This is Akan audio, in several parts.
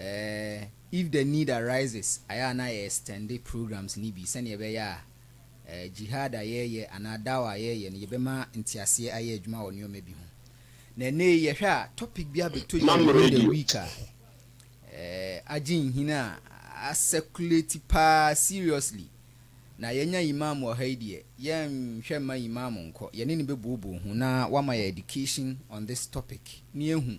Eh, if the need arises ayɛ a na yɛ extende programs no bi sɛnea ɛbɛyɛ a eh, jihad a yɛreyɛ anaa dawah a yɛreyɛ no yɛbɛma nteaseɛ ayɛ adwuma wɔ nneɛma bi ho. Na ɛnnɛ yi yɛhwɛ a topic bi abɛtɔ dwa within the week a eh, agye nhini a a circulate paa seriously. Na yɛanya Imam wɔ ha yi deɛ, yɛnhwɛ mma Imam nkɔ, yɛne no bɛbooboo ho na wama yɛ education on this topic na yɛahu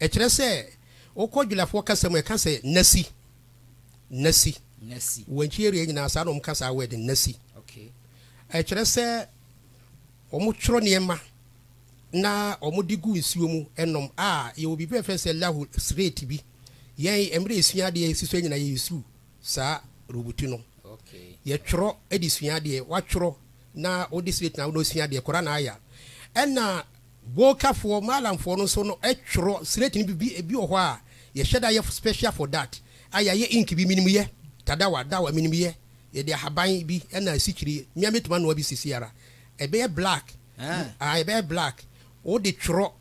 Ɛkyerɛ sɛ, wokɔ Julafoɔ kasa mu a, ɛka sɛ Nasi. Nasi. Nasi. Wankye area nyinaa saa na wɔka saa word no, Nasi. Okay. Ɛkyerɛ sɛ wɔtwerɛ nneɛma na wɔde gu nsuo mu nom a yɛwɔ biribi a yɛfrɛ sɛ lahu slate bi. Yɛn mmerɛ yɛsua adeɛ a yɛsisɔ nyinaa yɛ use saa robuti no. Okay. Yɛtwerɛ de sua adeɛ, watwerɛ na wode slate na wode sua adeɛ, Koran aya. Ɛna Golkafoɔ, Maalamfoɔ no nso no twerɛ slate no bi bi ebi wɔ hɔ a yɛhyɛ da yɛ special for that a yɛayɛ ink bi menim yɛ tadawa dawa menim yɛ yɛde ahaban bi na asikyire me ara mɛtumi anoa bi sisi ara ɛbɛyɛ black aah ɛbɛyɛ black wode twerɛ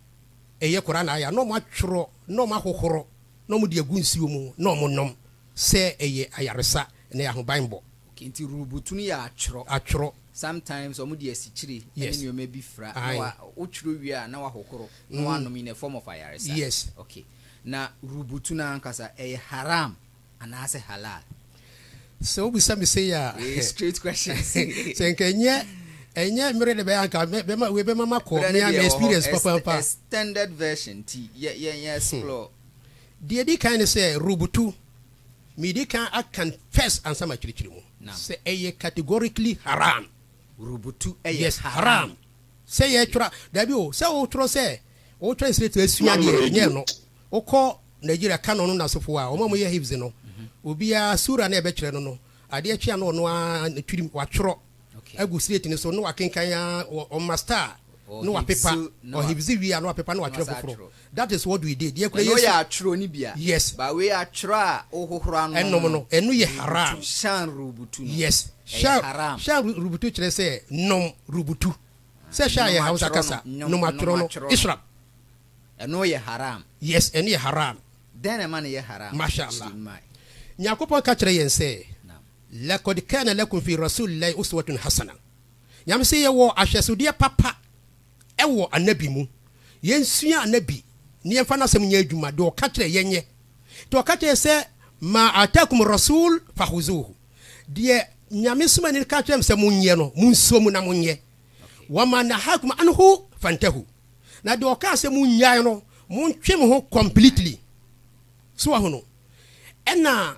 ɛyɛ Quran ayah na wɔn atwerɛ na wɔn ahohoro na wɔn de agu nsuo mu na wɔn nom sɛ ɛyɛ ayaresa ɛna ɛyɛ ahobanbɔ. Enti rubutun yɛ atwerɔ. Atwerɔ. Sometimes wɔn de asikyire ne Yes. nneɛma bi fira na Aye. wa wotwerɛ wie a na wahohoro na Mm. wanom in a form of ayaresa. Yes. Okay. Na rubutun ankasa ɛyɛ haram anaasɛ halal? Sɛ wobisa me sei a, Wei yɛ straight questions. sɛ nka ɛnyɛ ɛnyɛ mmere de bɛyɛ anka mɛ- bɛma wei bɛma makɔ Berɛ no mea deɛ me ɛwɔ hɔ, experience ex- papaapa. extended version nti yɛ yɛ yɛ explore. Deɛ ɛdi kan ne sɛ rubutu Mede kan akan first ansa makyerɛkyerɛ mu. Sɛ ɛyɛ categorically haram. Rubutu yɛ Yes, haram. Sɛ yɛtwerɛ a, daabi o, sɛ wotwerɛ sɛ wo translate asua deɛ, nyɛ ɛno. Wokɔ Nigeria Canon no nasefo hɔ a, wɔn a wɔyɛ Hifz no, obiara Surah no a ɛbɛkyerɛ no no, adeɛ kye a na ɔno ara ne tirim watwerɛ. agu slate no so na wakenkan a ɔma star na wapepa ɔhibzi wie a na wapepa na watwerɛ foforɔ that is what we did yɛ kura yɛ yɛ atwerɛ no bia yes ba wei atwerɛ a wohohoro ano ɛnom no ɛno yɛ haram shan rubutu no yes shan shan rubutu kyerɛ sɛ nom rubutu sɛ hwɛ a yɛ hausa kasa nom atwerɛ no ishrab ɛno yɛ haram yes ɛno yɛ haram dɛn na ɛma no yɛ haram masha allah nyankopɔn ka kyerɛ yɛn sɛ Lakod kana lakum fi Rasulillahi uswatun hasanah, Nyame se yɛwɔ ahwɛsodeɛ papa wɔ Anabi mu, yɛnsua Anabi na yɛmfa n'asɛm nyɛ adwuma, deɛ ɔka kyerɛ yɛnyɛ, nti ɔka kyerɛ yɛ sɛ, Maa ataakum Rasul fahuzuhu, deɛ Nyame somani no ka kyerɛ mo sɛ monyɛ no, monsuo mu na monyɛ, wamaa nahakum anhu fantahu, na deɛ ɔkaa sɛ monnyae no, montwe mo ho completely, so wahunu, ɛna.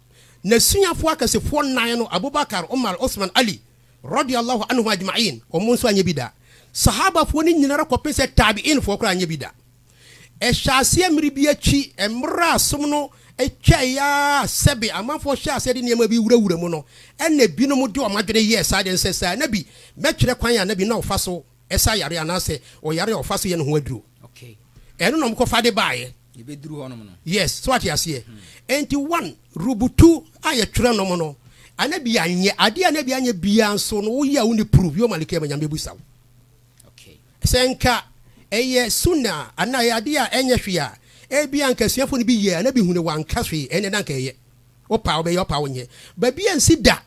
N'asuafoɔ akɛsefoɔ nnan no, Abu Bakar, Umar, Uthman, Ali, radiyallahu anhum ajma'een, wɔn nso anyɛ bi da. Sahabafoɔ no nyinara kɔpem sɛ Taabi'eenfoɔ koraa anyɛ bi da. Ɛhyɛɛ aseɛ mmere bi akyi, mmere a som no twaeɛ ara a sɛbe amanfoɔ hyɛɛ aseɛ de nneɛma bi wurawura mu no, ɛna binom de wɔn adwene yɛɛ saa deɛ no sɛ, Sɛ Anabi, mɛtwerɛ kwan a Anabi na ɔfa so ɛsa yare anaasɛ ɔyare a ɔfa so yɛ ne ho aduro ɛno na ɔmokɔfa de baeɛ yes so ate aseɛ ɛnti hmm. one rubutu a yɛtwerɛ nom no ana bi anyɛ adeɛ ana bi anyɛ biaa nso no woyɛ a wo ne proof yɛ ɔmaleke ama nyame busa wo sɛ nka ɛyɛ suna ana ɛyɛ adeɛ a ɛnyɛ hwee a ebi anka asuafo no bi yɛ ana bi hu ne wanka hwee ɛnɛ na nka ɛyɛ wopa wobɛyɛ wopa wonyɛ baabi a nsi da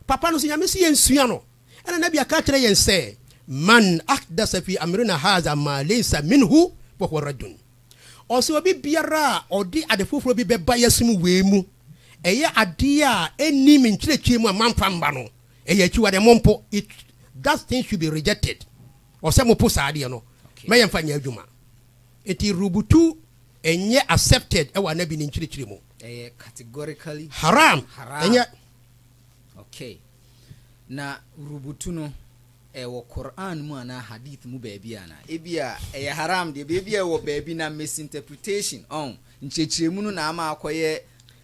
papa no so nyame si yɛnsua no Ɛna Nabi aka akyerɛ yɛn sɛ, Man ahdasa fi amrina haza maa laysa minhu fahuwa raddun. Ɔse obi biara a ɔde ade foforɔ bi bɛba yɛsom wei mu, ɛyɛ adeɛ a ɛnni me nkyerɛkyerɛ mu a mamfa mma no, ɛyɛ akyiwadeɛ, mompo, it, that thing should be rejected, ɔsɛ mopo saa adeɛ no, ma yɛmfa nyɛ adwuma. Nti rubutu ɛnyɛ accepted ɛwɔ Anabi ne nkyerɛkyerɛ mu. Ɛyɛ categorically Haram, haram. ɛnyɛ. Okay. Na rubutu no, ɛwɔ Qur'aan mu anaa Hadiith mu baabi anaa? Ebia ɛyɛ haraam deɛ, baabi a ɛwɔ baabi na misinterpretation, ɔn, nkyerɛkyerɛmu no na ama akɔyɛ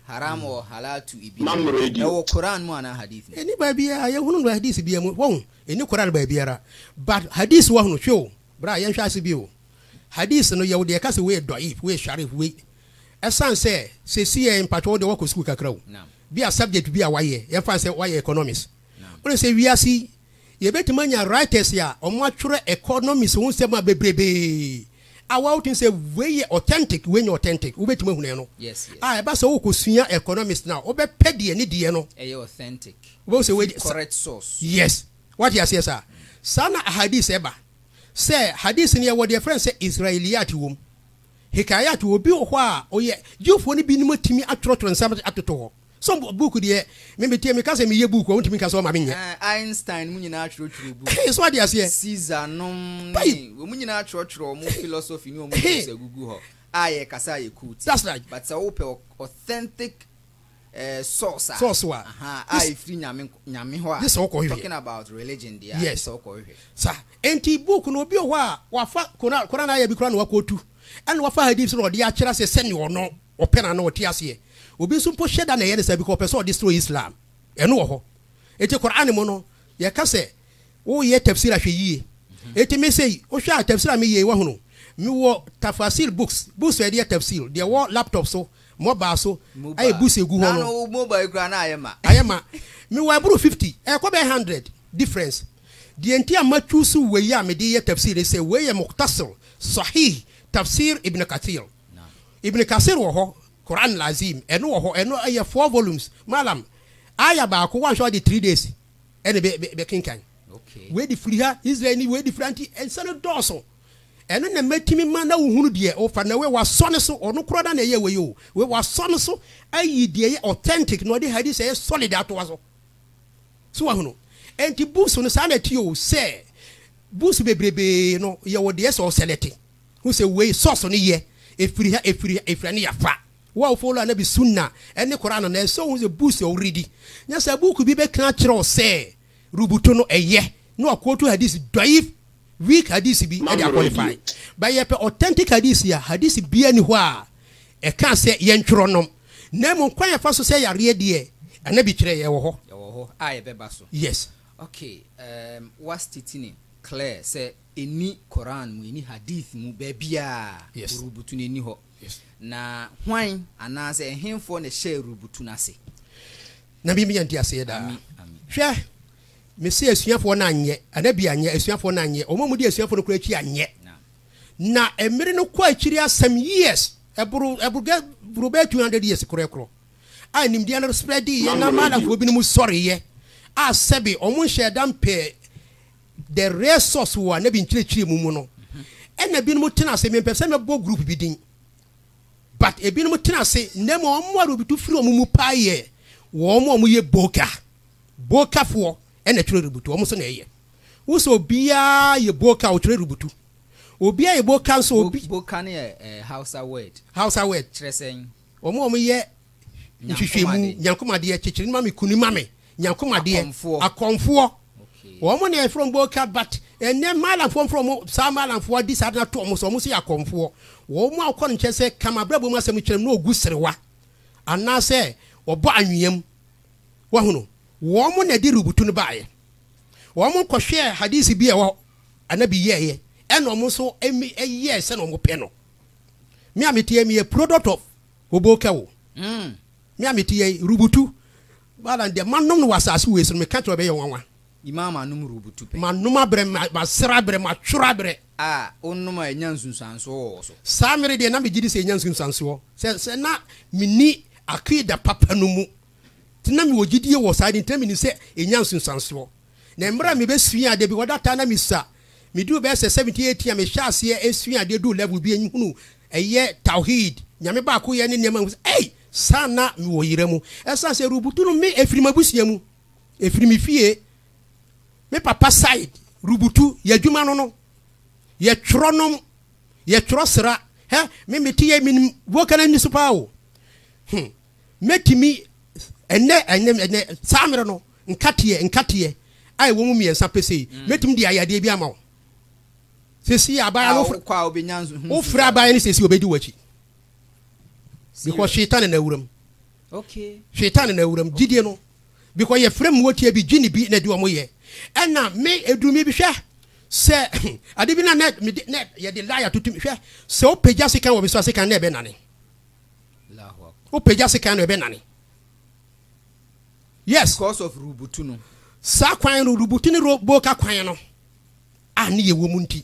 haraam or halaal to ibi. Ɛwɔ Qur'aan mu anaa Hadiith mu? Ɛnni baabiara, yɛnhunu no Hadiith biara mu, wahu? Ɛnni Qur'aan baabiara. But Hadiith wɔ no, hwɛ o, bra, yɛnhwɛ ase bi o. Hadiith no, yɛwɔ deɛ ɛka sɛ wei yɛ dɔ'if, wei yɛ sharif, wei. Ɛsan sɛ, sɛsi yɛ, mpakyɛ wo deɛ woakɔ sukuu kakra o. Bi a subject bi a wayɛ, yɛmfa no sɛ wayɛ economics. Wonim sɛ wiase yi, yɛbɛtumi anya writers a wɔatwerɛ economics ho nsɛm a bebrebee a woa wotumi sɛ wei yɛ authentic, wei nyɛ authentic. Wobɛtumi ahunu ɛno. A ɛba sɛ wokɔsua economics no a, wobɛpɛ deɛ ne deɛ no. Ɛyɛ authentic. Wobɛhu sɛ wei deɛ. Ɛfiri correct source. Yes. Woate aseɛ saa? Saa na ahadith ɛba. Sɛ hadith no yɛwɔ deɛ yɛfrɛ no sɛ Israeliyat wom. Hikayat, wɔ obi wɔ hɔ a ɔyɛ Jewfoɔ no bi no mu tumi atwerɛtwerɛ nsɛm atoto hɔ. Sɛ book deɛ, me meteɛ me ka sɛ meyɛ book a, wontumi nka sɛ wɔma menyɛ. Ɛɛ, Einstein mo nyinaa atwerɛtwerɛ book. He, so wate aseɛ. Caesar nom ne, Bae. wɔn nyinaa atwerɛtwerɛ wɔn philosophy ne wɔn He. books agugu hɔ a yɛkasa a yɛ quote. That's right. But sɛ wopɛ authentic source a source wa a ɛfiri nyame nyame hɔ a gye sɛ wokɔhwehwɛ talking about religion deɛ yes. sɛ wokɔhwehwɛ sa enti book no obi wɔ hɔ a wafa koran koran ayɛ bi koraa na wakɔtu ɛna wafa hadith na ɔde akyerɛ sɛ sɛne ɔno ɔpɛ na na ɔte aseɛ obi nso mpo hyɛ da na ɛyɛ ne saa bi kɔ ɔpɛ sɛ ɔde soro islam ɛno wɔ hɔ enti koran mu no yɛka sɛ woyɛ tafsir ahwɛ yie mhm. enti me sei wohwɛ a tafsir a meyie wahunu mewɔ tafasir books books a ɛdeɛ tafsir deɛ wɔ laptop so Mobile so ayɛ bus egu hɔ no. Nana wo mobile yi koraa na ayɛ ma. Ayɛ ma. Me wɔ aboro fifty, ɛkɔ bɛyɛ hundred difference. Deɛ nti a ma choose wei a mede yɛ tafsir ne sɛ wei yɛ Mukhtasar Sahih Tafsir Ibn Kathir. Ibn Kathir wɔ hɔ, Qur'an Al-Azim, ɛno wɔ hɔ, ɛno ɛyɛ four volumes. Malam, Aya baako woanhwɛ a ɔde three days ɛna bɛ bɛ bɛkenkan. Wei de firi ha, Israel ni, wei de firi ha nti nsa no dɔɔso. Ɛno na mɛtumi ma na wohunu deɛ wofa na wei wasɔ no so ɔno koraa na ɛyɛ wei o wei wasɔ no so ayi deɛ ɛyɛ authentic na ɔde hadith ɛyɛ solid atoa so so wahunu ɛnti books no saa na ɛte o sɛ books bebrebee no yɛwɔ deɛ sɛ ɔsɛlɛte hu sɛ wei sɔso no yɛ ɛfiri ha ɛfiri ha ɛfiri ha ne yɛfa wo a wofolo anabi sunna ɛne koraa no na ɛsɛ wohu sɛ books ɔworedi nyɛ sɛ book bi bɛka kyerɛ wo sɛ rubutu no ɛyɛ na ɔkootu hadis dɔ'if, weak, hadis bi de aqualify but yɛpɛ authentic hadis a hadis biara nni hɔ a ɛkaa sɛ yɛntwerɔ nom na mmom kwan a yɛfa so sɛ yareɛ deɛ Annabi kyerɛɛ yɛn wɔ hɔ. Ɛwɔ hɔ a yɛbɛba so. Yes. Okay, um wa state no clear sɛ ɛnni Quran mu, ɛnni hadith mu baabiara Yes. rubutu no ɛnni hɔ. Na hwan anaasɛ ɛhefoɔ na ɛhyɛɛ rubutu no ase? Na me nya nteaseɛ daa. Ami, ami. Hwɛ, mese asuafoɔ no anyɛ, ana bi anyɛ, asuafoɔ no anyɛ, wɔn a wɔdi asuafoɔ no koraa akyi anyɛ. Naam. Na mmere no kɔ akyiri a some years, ɛboro, ɛboro, gɛ, boro bɛyɛ 200 years korɛkorɔ, a nimdeɛ no spreadeeɛ na Maalafoɔ binom sɔreeɛ a sɛbe wɔn nhyɛɛ da mpɛɛ The real source wɔ anabi nkyerɛkyerɛ mu mu no ɛna binom tena ase mempɛ sɛ mɛbɔ group bi din but ebinom tena ase na mmom wɔn a rebutu firi wɔn mu paa yɛ wɔn a wɔyɛ boka bokafoɔ ɛna twerɛ rebutu wɔn nso na ɛyɛ wo sɛ obiara yɛ boka ɔtwerɛ rebutu obiara yɛ boka nso obi boka ne yɛ eh, hausa word hausa word kyerɛ sɛn wɔn a wɔyɛ nhwehwɛmu, nyankomadeɛ, kyekyere no ma me, kuni ma me, nyankomadeɛ, akɔmfoɔ, wɔn na yɛfrɛ wɔn bɔɔka but ɛnɛ maalamfoɔ mfrɛ wɔn saa maalamfoɔ adi saa de no ato wɔn so wɔn nso yɛ akɔmfoɔ wɔn a wɔkɔ no nkyɛn sɛ kama abrabɔ mu asɛm kyerɛ no na ɔgu serewa anaasɛ ɔbɔ anweam wahunu wɔn na ɛde rubutu no baeɛ wɔn kɔhwɛɛ hadisi bi a ɛwɔ anabi yɛɛyɛ ɛna wɔn nso ɛyɛɛ sɛ na wɔn pɛ no me a meteɛ meyɛ product of Obo kɛ wo. Mm. Me a mete yɛ yi, rubutu. Bala deɛ manom no wɔ asase wei so no, meka kyerɛ wo ɛbɛyɛ nwanwa. Imaa manom rubutu pɛ. Manom abrɛ, masere abrɛ, matworo abrɛ. A wonom a ɛnya nsunsuansoɔ wɔ wo so. Saa mmere deɛ na megye di sɛ ɛnya nsunsuansoɔ. Sɛ, sɛ na menni Aqiidah papa no mu. Nti na mewɔ gyidie wɔ saa de nti na menim sɛ ɛnya nsunsuansoɔ. Na mmerɛ a mebɛsuaa ade bi, wɔ da taa na mesua, meduu bɛyɛ sɛ seventeen, eighteen a mehyɛɛ aseɛ suaa adeɛ duu level bi a nhunu ɛyɛ Tawheed, Nyame baakoyɛ ne nneɛma mu sɛ ei! Saa na mewɔ yera mu. Ɛsiane sɛ Rubutu no me ɛfiri m'abusua mu, ɛfiri me fie, me papa side Rubutu, yɛ adwuma no no, yɛ twerɔ nom, yɛ twerɔ sera, hɛ me mete yɛ menim vocal no ani so paa o, hmm. mɛtumi ɛnɛ ɛnɛ ɛnɛ saa mmerɛ no nkateɛ nkateɛ a ɛwɔ mu mmiɛnsa pesee mm. mɛtumi de ayɛ adeɛ bi ama wo sɛsi abaya no wofrɛ abaya no sɛsi ɔbɛdi w'akyi because shetan ne nawuram shetan ne nawuram gyidie no because yɛfrɛ mu wɔtie bi gye ne bi na ɛde ɔmo yɛ ɛna me ɛdurumi bi hwɛ sɛ ade bi na na yɛde laya tutum hwɛ sɛ wopagya sekan wɔ bi so asekan na ɛbɛnane Wopagya sekan no ɛbɛnane. Yes. Because of rubutu no. Saa kwan no rubutu ne boka kwan no a ne yɛ wɔ mu nti.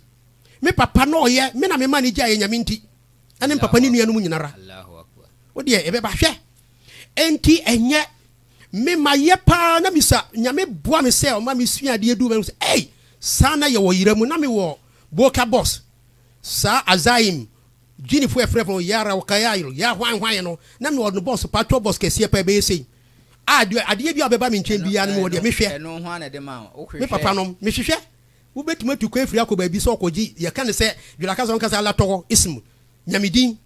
Me papa na ɔyɛ me na me ma ne gya yɛ nyame nti. Ɛne papa ne nuanom nyinara. Wo deɛ ɛbɛba hwɛ. Enti ɛnyɛ me ma yɛ paa na misa nyame boa me sɛ ɔma me sua adeɛ du mɛhu sɛ ei saa na yɛ wɔ yera mu na me wɔ boka boss saa azaim Guineafo a wɔfrɛ wɔn Yaraw Kayayro, Yaa Hwan Hwan, no na mewɔ no bɔs, patrol bɔs kɛseɛ paa, ɛbɛyɛ sei a deɛ adeɛ biara a ɔbɛba me nkyɛn biara no mewɔ deɛ mehwɛ. Me papanom, mehwehwɛ, wobɛtumi atu kwan afiri akɔ baabi sɛ ɔkɔgye, yɛka no sɛ Dwola kasa no nka sɛ Allah tɔgɔ, ism, Nyame din.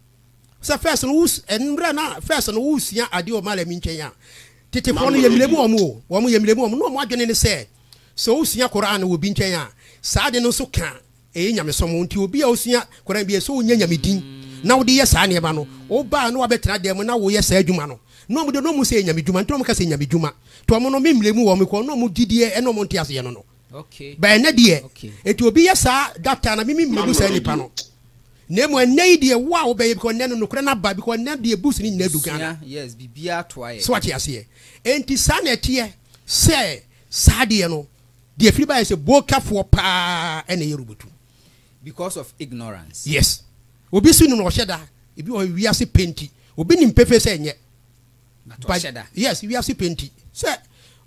Sɛ first no wo, mmerɛ na first no wosua adeɛ wɔ malami nkyɛn a, tetefoɔ no yɛmmerɛ mu wɔn o, wɔn yɛmmerɛ mu wɔn, na wɔn adwene ne sɛ, sɛ wosua Qur'aan wɔ obi nkyɛn a, saa ade no nso ka Ɛyɛ nyamesom nti obi a osua Koran bi a ɛsɛ sɛ onya Nyame din na wode yɛ saa nneɛma no. Woba a na woabɛtena dan mu na woyɛ saa adwuma no. Na wɔn deɛ na wɔhu sɛ ɛyɛ Nyame dwuma nti na wɔka sɛ Nyame dwuma. Nti wɔn no me mmerɛ mu wɔ me kɔn na wɔn gyidie ne wɔn nteaseɛ no no. But ɛnnɛ deɛ nti obi yɛ saa that time na me me mmerɛ mu saa nipa no. Na mmom ɛnnɛ yi deɛ wo a wobɛyɛ because ɛnnɛ no nokorɛ no aba because ɛnnɛ deɛ books no nyinaa du Ghana. So wate aseɛ? Ɛnti saa na ɛteɛ sɛ saa deɛ no. Deɛ firi baeɛ sɛ bokafoɔ paa na ɛyɛ robotu. Because of ignorance. Yes. Obi so nim na ɔhyɛ da. Ebi wɔ hɔ wiase pɛ nti. Obi nim pefee sɛ ɛnyɛ. But ɔhyɛ da. Yes, wiase pɛ nti. Sɛ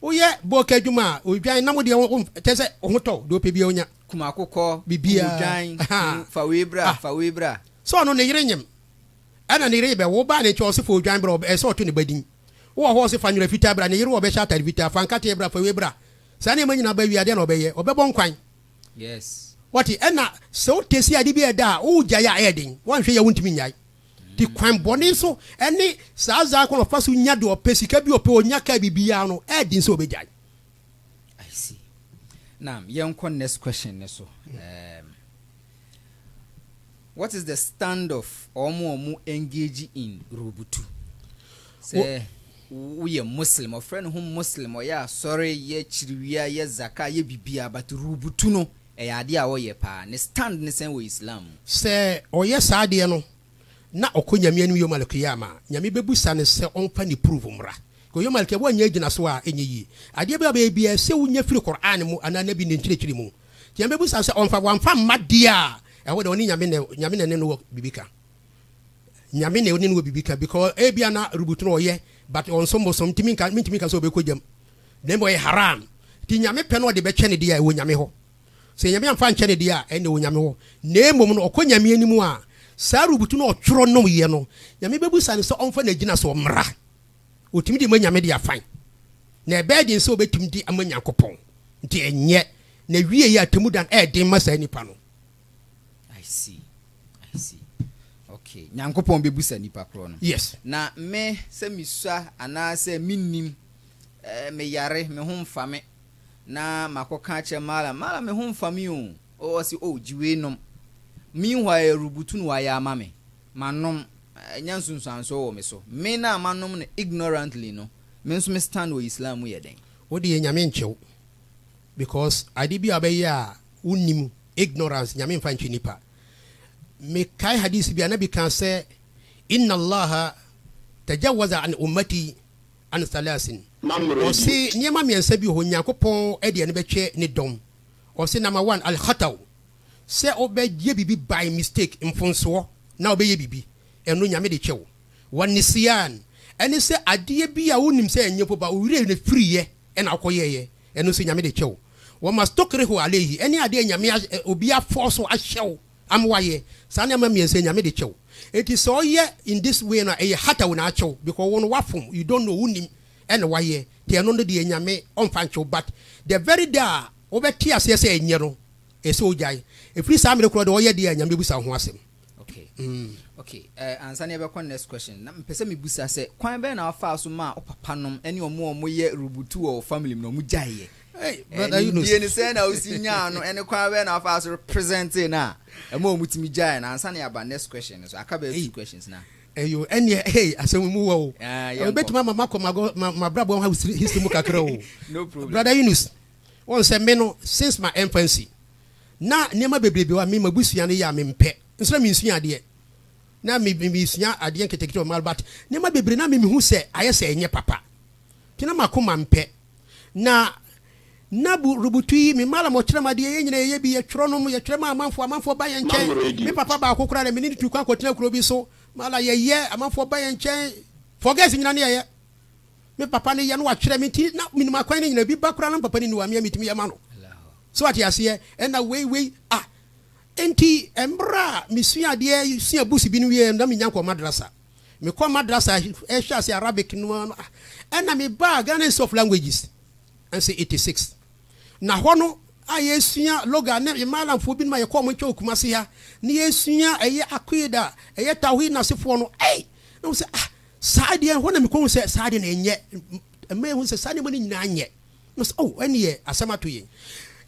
woyɛ boka adwuma a, odwan na mo deɛ wo kyɛ sɛ wo ho tɔ wo. Deɛ ɔpɛ biara ɔnya. Kumakokɔ, odwan, fa wei bra, ah. fa wei bra. Sɛ ɔno ne yere nyem ɛna ne yere bɛwo ba ne nkyɛn ɔse fa odwan bra ɛsɛ ɔto ne ba din. Wowɔ hɔ ɔse fa nwera fitaa bra ne yere wɔ bɛhyɛ atade fitaa fa nkate bra fa wei bra saa nneɛma nyinaa ba wie a deɛ na ɔbɛyɛ ɔbɛbɔ nkwan wate ɛna sɛ wo tesi ade bi ɛda a wo gyae a ɛyɛ den wɔnhwɛ yɛ wo ntumi nyae ti kwan bɔne so ɛne saa zaa kwan ɔfa so nya de ɔpɛ sika bi ɔpɛ ɔnya kaa bibiara no ɛyɛ den sɛ ɔbɛgyae I see. Now, yɛnkɔ next question ne so. Um, What is the stand of wɔn a wɔn engage in rubutu? Sɛ woyɛ Muslim, ɔfrɛ ne ho Muslim, ɔyɛ asɔre, yɛ kyiriwia, yɛ zaka, yɛ bibia, but rubutu no, ɛyɛ adeɛ a ɔyɛ paa. Ne stand ne sɛn wɔ Islam mu? Sɛ ɔyɛ saa adeɛ no, na ɔkɔ Nyame anim Yom Al-Qiyama a, Nyame bɛbusa no sɛ ɔmfa ne proof mmra. Because Yom Al-Qiyama, woannya agyinasoɔ a, ɛnyɛ yie. Adeɛ biara a wobɛyɛ biara, ɛsɛ sɛ wonya firi Qur'aan mu anaa Nabi ne nkyerɛkyerɛ mu. Deɛ mɛbusa no sɛ ɔmfa wamfa mma deɛ a ɛhɔ deɛ ɔne nyame na nyame na ne no wɔ biribi ka nyame na ɔne no wɔ biribi ka because ebia na rubutu no ɔyɛ but ɔnsom bosom ntumi nka ntumi nka sɛ ɔbɛkɔ gyam na mbɔ yɛ haram ti nyame pɛ na ɔde bɛkyɛ ne deɛ a ɛwɔ nyame hɔ sɛ nyame amfa nkyɛ ne deɛ a ɛne wɔ nyame hɔ na mmom no ɔkɔ nyame anim a saa rubutu no ɔtwerɛ nom yɛ no nyame bɛbusa no sɛ ɔmfa n'agyina so mmra Wɔtumi de ma nyame de afan. Na ɛbɛyɛ den sɛ wɔbɛtumi de ama Nyankopɔn. Nti ɛnyɛ. Na wieeɛ atemmuda no ɛyɛ den ma saa nipa no. I see. I see. Okay. Nyankopɔn bɛbusa nipa korɔ no. Yes. Na me, sɛ mesua anaa sɛ mennim, eh, meyare, me ho mfa me, na makɔka akyerɛ Mallam, Mallam me ho mfa me o, oh, ɔse, oh, gye wei nom. Meanwhile, rubutu na wayɛ ama me. Manom, nya nsunsuansoɔ wɔ me so. Me no a manom no ignorantly no, me nso me stand wɔ Islam mu yɛ dɛn? Wo deɛ Nyame ntwe wo because ade bi a wobɛyɛ a wonnim, ignorance, Nyame mfa ntwe nipa. Me kae hadith bi a Nabi kaa sɛ, Inna Allaha tajawaza an ummati an thalaasin, ɔse nneɛma mmiɛnsa bi wɔ hɔ Nyankopɔn de ani bɛtwe ne dɔm, ɔse number one, Al-khatau, sɛ wo bɛ yɛ biribi by mistake, mfonsoɔ, na wo bɛ yɛ biribi, ɛno Nyame de kyɛ wo. Wa nisyan, ɛne sɛ adeɛ bi a wo nim sɛ ɛnyɛ po ba wo werɛ ne firi yɛ ɛna wo kɔ yɛ yɛ, ɛno nso Nyame de kyɛ wo. Wa mastukrihu alaihi, ɛne adeɛ a Nyame a obi a force wo ahyɛ wo ama wa yɛ, saa nneɛma mmiɛnsa yi Nyame de kyɛ wo. Enti sɛ wo yɛ in this way no a ɛyɛ hataw na akyɛ wo because wo no wa fom, you don't know, wo nim, ɛna wa yɛ, nti ɛno no deɛ Nyame ɔnfa nkyɛ wo but the very day a wo bɛ te aseɛ sɛ ɛnyɛ no Ɛsɛ sɛ ɔgyae. Ɛfiri saa mmerɛ korɔ deɛ ɔyɛ deɛ a Nyame bɛbusa ho asɛm. Okay. Okay. Uh, ansa na yɛbɛkɔ next question. Na mpɛ sɛ mebusa sɛ, kwan bɛn na wafaa so maa wo papa nom ɛne ɔmo a ɔmo yɛ rubutu wɔ wo family mu no ɔmo gyaeɛ? Hey, brother Yunus. Nimdie no sɛ na wosi nyaa no ɛne kwan bɛn na wafaa so represente no a ɛma ɔmo tumi gyaeɛ no ansa na yɛaba next question no so. Aka bɛyɛ two questions na. Eyo ɛneɛ hey asɛm mu wɔ o. Ɛbɛtumi ama makɔ mabrabɔ ho history mu kakra o. No problem. Brother Yunus. Wɔn sɛ me no since ma infancy na nneɛma bebrebe wɔ a me mabusua no yɛ a mempɛ nso na mensua adeɛ na me mesua adeɛ nketekete wɔ mal but nneɛma bebree na me mehu sɛ ayɛ sɛ ɛnyɛ papa nti na makoma mpɛ na na bu rubutu yi me malam ɔkyerɛ ma adeɛ yɛ nyina yɛyɛ bi yɛtwerɛ nom yɛtwerɛ ma amanfoɔ amanfoɔ ba yɛ nkyɛn me papa baako koraa na me ne no tu kwan kɔtena kuro bi so mala yɛyɛ amanfoɔ ba yɛ nkyɛn forgets nyina ne yɛyɛ me papa no yɛ no wakyerɛ me nti na menim akwan no nyina bi ba koraa na me papa no ni wɔ a me a metumi yɛ ma no so wate aseɛ ɛna wei wei a nti mmerɛ a mesua adeɛ sua bus bi no wie na menya nkɔ madrasa mekɔ madrasa ɛhyɛ ase Arabic no ɛna mebaa Ghana Institute of Languages ɛnso 86 na hɔ no a yɛsua loga ne malamfoɔ bi no ma yɛkɔ ɔmo nkyɛn okuma se ha ne yɛsua ɛyɛ akida ɛyɛ tawhid nasefoɔ no ɛy na mo sɛ ah Saa adeɛ, ɛhɔ na mekɔhu sɛ saa adeɛ no ɛnyɛ, ɛma yɛhu sɛ saa nneɛma no nyinaa nyɛ. Na sɛ, oh, ɛnneɛ asɛm ato yɛn.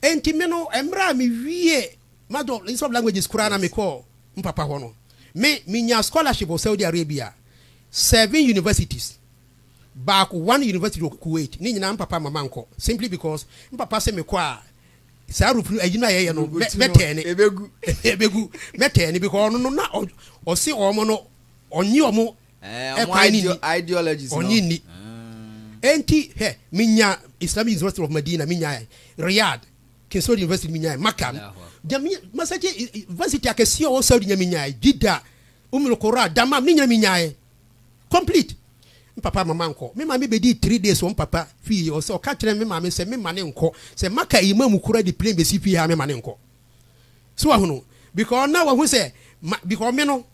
Enti me no, mmerɛ a mewiee m'Adolescence of Languages koraa na mekɔɔ me papa hɔ no, me, menyaa scholarship wɔ Saudi Arabia, seven universities, baako, one university wɔ Kuwait, ne nyinaa me papa amma mankɔ, simply because me papa se mekɔ a, saa Europe no, ayi no a yɛyɛ no, mɛ, mɛtɛɛne, ɛbɛgu, mɛtɛɛne, because ɔno no, na ɔ, ɔse wɔn no, Ɔnnye wɔn kwan no nni. Ɔnnye nni. Enti, hwɛ, menyaa Islamic University of Medina, menyaa Riyadh, King Saud University, menyaa Makkah, Masjid University akɛseɛ ɔwɔ Saudi nyɛ menyaa, Jeddah, Umm al-Qura, Dammam, ne nyɛ menyaa. Complete. Me papa ama mankɔ. Me maame bɛdii three days wɔ me papa fie, ɔsɛ ɔka kyerɛ me maame sɛ memma no nkɔ. Sɛ Makkah Imam kura de plane bɛsi fie ha a, memma no nkɔ. So wahono? Because na wahu sɛ ma because me no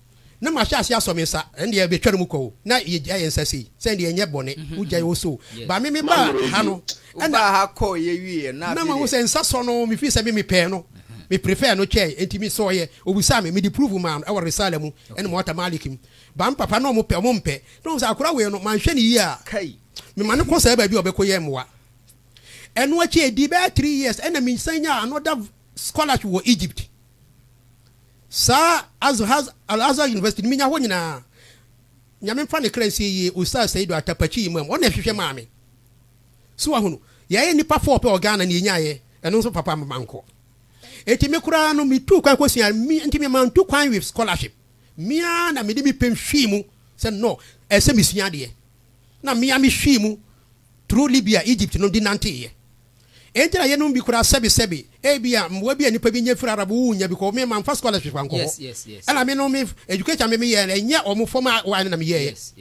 na mahyɛ ase asɔ me nsa ɛndeɛ bɛtwa no mu kɔ o na yɛgya yɛ nsa sei sɛ ɛndeɛ ɛnyɛ bɔne mhm, wogya yɛ mhm. wo so ba me me baa ha no ɛna ha kɔ yɛ wie na na mahu sɛ nsa sɔ no mefiri sɛ me mepɛɛ no mhm. me prefer no kyɛɛ ɛnti me sɔ yɛ obusaa me mede prove maa no ɛwɔ risala mu ɛne mɔta malik mu ba me papa na ɔmo pɛ ɔmo mpɛ na ɔmo sɛ akora wei no manhwɛ ne yie a mema no kɔ saa baabi a ɔbɛkɔ yɛ mmoa Ɛno akyi ɛdii bɛyɛ three years ɛna mensan nyaa another scholarship wɔ Egypt. Saa Azhar, Al-Azhar University no menya hɔ nyinaa. Nyame mfa ne kra nsie yie, Ustaz Saidu Atakpakyi Imam, ɔno na ɛhwehwɛ maa me. So wahu no, yɛyɛ nnipa four pɛ wɔ Ghana na yɛnyaeɛ, ɛno nso papa ama mankɔ. Enti me koraa no metuu kwan kɔsua, nti me mantu kwan with scholarship. Me ara na mede me pɛ hwii mu sɛ no, ɛsɛ mesua adeɛ. Na me ara mehwii mu. Turo Libia, Egypt no de nanteeɛ. Enti na yeinom bi koraa sɛbe sɛbe ebia mmoa bi a nnipa bi nya firi Arab wɔ nya bi kɔ hɔ. Me mamfa scholarship ankɔ hɔ. Ɛna me no me education a me meyɛɛ no ɛnyɛ wɔn formal one no na meyɛɛeɛ.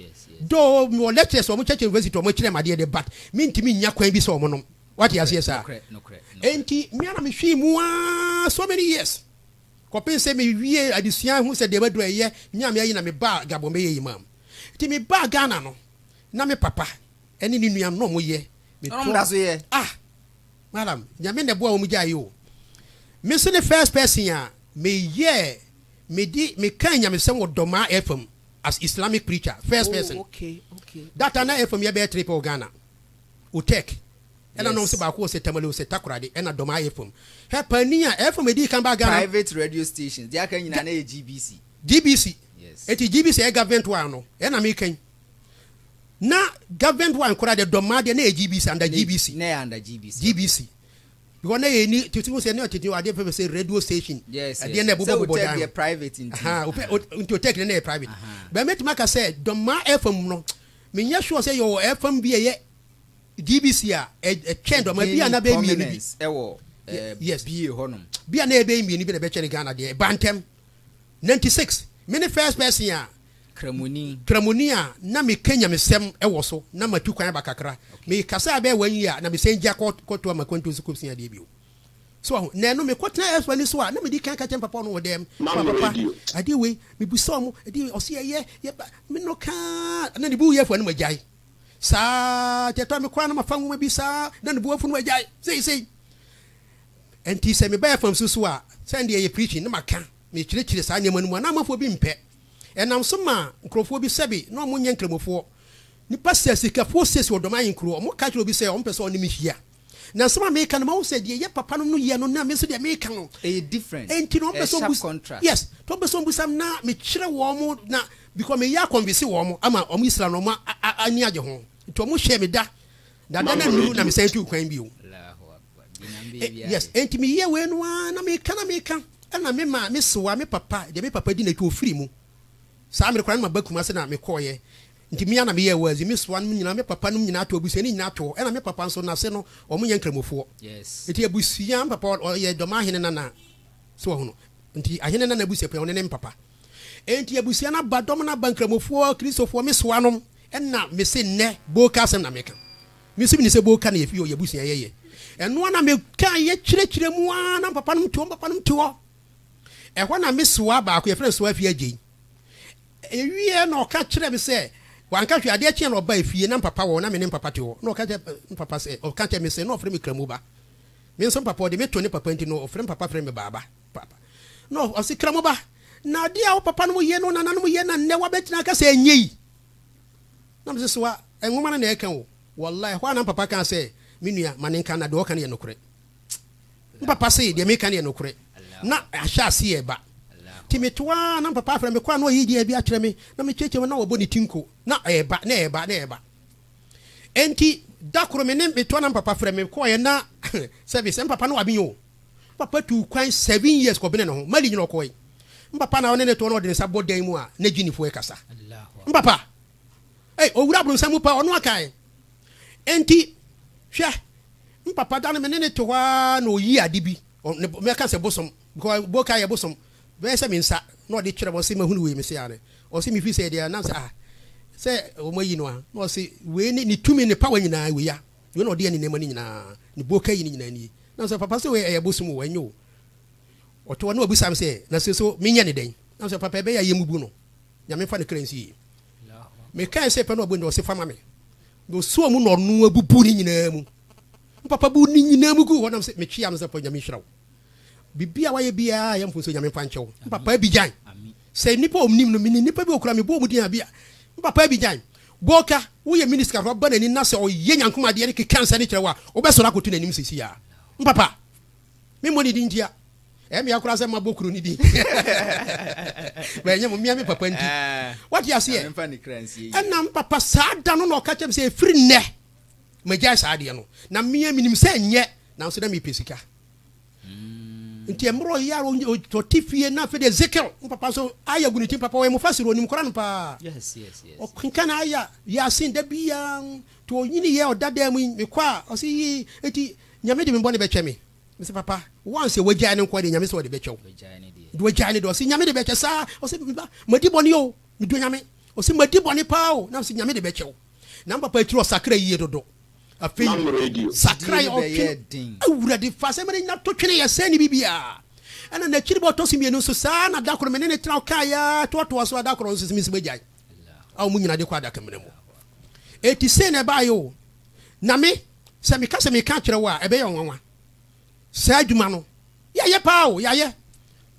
Though mewɔ lectures a wɔn kyerɛkyerɛ university a wɔn akyerɛ me adeɛ deɛ but mentumi nnya kwan bi sɛ wɔn nom. Woate aseɛ saa? Enti me ara mehwee mu ara so many years kɔpem sɛ me wiee adesua hu sɛ deɛ maduru ɛyɛ Nyame ayi na me baa Gabon bɛyɛ Imam. Enti me baa Ghana no na me papa. Ɛne ne nua no ɔmo yɛ. Ɛna ɔmo da so yɛ. Ah madam nyame na ɛboa wɔn gya yi o me nso ne first person a me yɛ me di me kan nyamesɛm wɔ dɔmaa ɛfam as islamic preacher first oh, person oh, okay, okay, data okay. na ɛfam yɛ bɛyɛ three pɛ wɔ ghana otɛk ɛna yes. nom sɛ baako wɔ sɛ tamale wɔ sɛ takorade ɛna dɔmaa ɛfam hɛ panin a ɛfam ɛdi kan ba ghana private radio stations deɛ aka nyina na yɛ gbc gbc yes. ɛti gbc ɛyɛ government wa no ɛna me kan na government wa nkora de dɔm adeɛ na yɛ GBC anda GBC na yɛ anda GBC GBC because na yɛ ni tete ho sɛ na tete ho adeɛ pɛpɛ sɛ radio station adeɛ na ɛbobɔ bobɔ dan private nti ha opɛ nti otɛk na yɛ private bɛn mɛtuma aka sɛ dɔmma ɛfam no menyɛ sure sɛ yɛ wɔ ɛfam bi ɛyɛ GBC a ɛtwɛn dɔmma bi a na bɛ mmienu bi ɛwɔ yes bi yɛ hɔnom bi a na yɛ bɛ mmienu bi na bɛtwɛn Ghana deɛ ɛba ntɛm Ninety six, Me ne first person a. Kramoni. Kramoni a na meka nyamesɛm wɔ so na matu kwan aba kakra. Mekasa bɛyɛ one year na mesan gya kɔ kɔtoa m'akwantuo so kɔsua adeɛ bio. So wahu? Na ɛno mekɔtena Ɛspo ani so a na medi kan ka kyerɛ me papa ɔno wɔ dɛm. Mma me Papa, radio. adeɛ wei, mebisa ɔmo, ɛdeɛ wei, ɔse yɛyɛ, yɛba, me no kaa, na ne bo yɛ afu a na magyae. Saa ara, kyɛtɔ a me koraa na mafa nwoma bi saa na ne bo afu na wagyae. Seisei, ɛnti sɛ meba FM so so a, sɛ ɛnde ɛyɛ preaching na maka. mekyerɛkyerɛ saa nneɛma no mu a na amanfoɔ bi mpɛ. Ɛnam so maa nkurɔfoɔ bi sɛbe na wɔnyɛ nkramofoɔ. Nnipa sɛasikafoɔ siesie wɔn dɔm ahenkuroɔ. Wɔka kyerɛ obi sɛ wɔmpɛ sɛ ɔne me hyia. Na nsɛm a meka no, mahu sɛ deɛ ɛyɛ papa no no yɛ no na me nso deɛ meka no, ɛyɛ different. Enti na wɔmpɛ sɛ wɔbu, yes, na wɔmpɛ sɛ wɔbusam na mekyerɛ wɔn na because meyɛ akɔnvinse wɔn ama wɔn Israel no wɔn ani agye ho. Enti wɔhyɛɛ me da, na da no annuru na mesan tuu kwan bio. yes enti meyɛ wei no ara na meka na meka ɛna me maa me sewa me papa deɛ me papa di n'akyi ofiri mu saa mmerɛ koraa no maba kuma se na mekɔɔyɛ nti mea na meyɛ wazi me sewa nom nyinaa me papa nom nyinaa to abusua no nyinaa to ɛna me papa nso nase no wɔn nyɛ nkramofoɔ nti abusua me papa ɔyɛ dɔm ahene nana so wɔhono nti ahene nana abusua pɛn ɔne ne papa nti abusua no aba dɔm no aba nkramofoɔ kristofoɔ me sewa nom ɛna mese nnɛ boka asɛm na meka Misi mini sɛ boka na yɛfi yɛ ɔyɛ abusua yɛyɛ ɛnoa na me ka yɛ kyerɛ kyerɛ mu aa na mpapa nom te hɔ mpapa nom te hɔ ɛhɔ na me soa baako yɛfrɛ no soa fi agyei ɛwieɛ na ɔka kyerɛ me sɛ wanka hwɛ adeɛ kyeɛ na ɔba efie na mpapa wɔ na me ne mpapa te hɔ na ɔka kyerɛ mpapa sɛ ɔka kyerɛ me sɛ na ɔfrɛ me kramu ba me nso mpapa ɔde me to ne papa nti na ɔfrɛ mpapa frɛ me baaba papa na ɔse kramu ba na adeɛ a wo papa nom yɛ no nananom yɛ na nnɛ wabɛtena aka sɛ ɛnyɛ yi Na mese, Soa nwoma no na ɛka o. Wallahi, ɛhɔ ara na me papa kaa sɛ, Me nua, ma no nka, na deɛ ɔka no yɛ nokorɛ. Me papa se, Deɛ meka no yɛ nokorɛ. Na ahyɛ aseɛ reba. Nti meto ara, na me papa afrɛ me, Kɔ a na ɔyi dua bi akyerɛ me, na mekyerɛkyerɛ mu, na wabɔ ne ti nko. Na ɛreba, na ɛreba, na ɛreba. Enti da koro me ne, meto ara na me papa frɛ me, mekɔeɛ na service, me papa no wabin o. Me papa tuu kwan seven years kɔ Benin ho. Mali nyina ɔkɔɔe. Me papa na ɔne ne too na ɔde ne nsa bɔ dan mu a na Guineafoɔ rekasa. Me papa! Ei, ɔwura abronsam mu paa, ɔno akae. Enti, hwɛ, me papa da no me ne no te hɔ ara na ɔyi ade bi, ɔ, ne, mɛka sɛ bosom, because boka yɛ bosom, bɛyɛ sɛ me nsa, na ɔde kyerɛ me, ɔse, mahunu wei, mese, aane. Ɔse, mefiri sɛ ɛdeɛ, nam sɛ, ah, sɛ wɔayi no a, na ɔse, wei ne, ne tumi, ne power nyinaa, wei a. Wei na ɔde yɛ ne nneɛma no nyinaa. Ne boka yi no nyinaa nie. Na mesɛ, Papa, sɛ wei ɛyɛ abosom o, ɛnyɛ o. Ɔte hɔ na wabisa me sɛ, Na sɛ so menyɛ no dɛn? Na mesɛ, Papa, ɛbɛyɛ a yɛmmubu no. Nyame mfa ne kra nsi yie. Mekae sɛ pɛ na wabue no dɛ, ɔse, Fa ma me. Na ɔsuaa mu na ɔno ara bubuu ne nyinaa mu. Na Papa buu ne nyinaa mu guu hɔ. Na mesɛ, Metwea no sɛ, Papa, Nyame nhyira wo. Biribi a wayɛ biara yɛ mfomsoɔ, Nyame mfa nkyɛ wo. Na Papa abigyan. Sɛ nnipa a wɔnim no, menim nnipa bi a wɔkura me bɔɔ wɔn din a, bi a, na Papa abigyan. Gorka, wo yɛ minister kafra ba n'anim na sɛ ɔyɛ nyankom adeɛ ne keka nsɛne kyerɛ wo a wobɛsɔre akoto n'anim sesei aa? Mpapa! Me mmɔ ne din ntia. Ɛyɛ mea koraa sɛ mabɔ kuro no din. But ɛnyɛ mo, mea me papa nti. Wate aseɛ? Ɛna mpapa saa da no na ɔka kyerɛ me sɛ ɛfiri nnɛ magyae saa adeɛ no. Na mea menim sɛ ɛnyɛ nanso na mepɛ sika. Nti mmerɛ ɔyɛ ara ɔnyɛ ɔte fie na afei deɛ Ezekiel wo papa nso aya gu ne ti papa ɔyɛ mufasir ɔnim kora no paa ɔkenkan aya yasin da biara nti ɔnyini yɛ ɔda dan mu yi mekɔ a ɔsi yi nti nyame de me bɔne bɛkyɛ me mese papa once a wagyae no nko deɛ nyame sɛ ɔde bɛkyɛ wo de wagyae no deɛ ɔsi nyame de bɛkyɛ saa ɔsi meba madi bɔne o medua nyame ɔsi madi bɔne paa o na ɔsi nyame de bɛkyɛ wo Na papa yi tiri ɔsakra yie dodo. Afei Mam radio. sakra yɛ ɔtwe no. Awurade fa asɛm no nya to twene yɛ sɛn ne bibiaa. Ɛna nakyiri bɔ ɔtɔ so mmienu nso saa na dakoro me ne ne tra ɔkaa yaa toatoa so adakoro nso sɛ mesima gyae a ɔmo nyina de kɔ adaka mena mu. Eti sei na ɛbaayɛ o. Na me sɛ meka sɛ meka akyerɛ wo a ɛbɛyɛ ɔnwanwa. Saa adwuma no yɛayɛ paa o yɛayɛ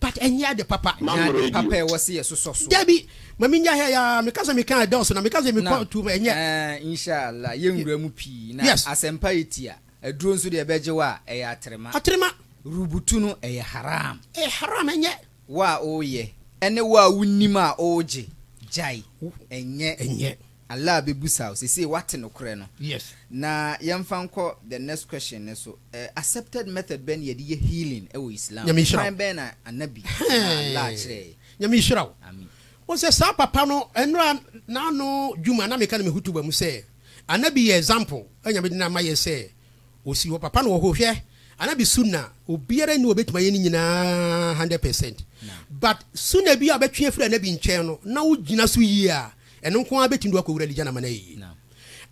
but ɛnyɛ ade papa. Ɛnyɛ ade papa ɛwɔ se yɛ sosɔ so. Dabi ma me nya ha ya meka se meka ɛdɔɔso na meka se mekɔ too mu ɛnyɛ. Ɛɛn inshallah yɛ nwura mu pii na asɛmpa yɛ tia aduro nso deɛ ɛbɛgye wo a ɛyɛ atrema. Atrema. Rubutu no ɛyɛ haram. Ɛyɛ haram ɛnyɛ. Wo a ɔɔyɛ ɛne wo a wo nim a ɔɔgye gyae ɛnyɛ. Ɛnyɛ. Allah bɛbusa wo sesei woate nokorɛ no. Yes. Na yɛmfa nkɔ the next question no so, eh, accepted method bɛn na yɛde yɛ healing wɔ Islam Nyame mu? nhyira Kwan wo. bɛn na Anabi anaa Allah Hɛɛn. kyerɛɛ yɛn? Nyame nhyira wo. Amin. Wohu sɛ saa papa no, nnora n'ano dwuma na meka no me hutuba mu sɛ, Anabi yɛ example a Nyame de no ama yɛn sɛ ɔsi hɔ. Papa no wɔ hɔ. Hwɛ Anabi Sunnah a, obiara nni hɔ a ɔbɛtumi ayɛ ne nyinaa hundred percent. Naam. But Sunnah bi a wobɛtwe afiri Anabi nkyɛn no, na wogyina so yie a, Ɛno nko ara betumi de wo akowura Elijah no amena yiye.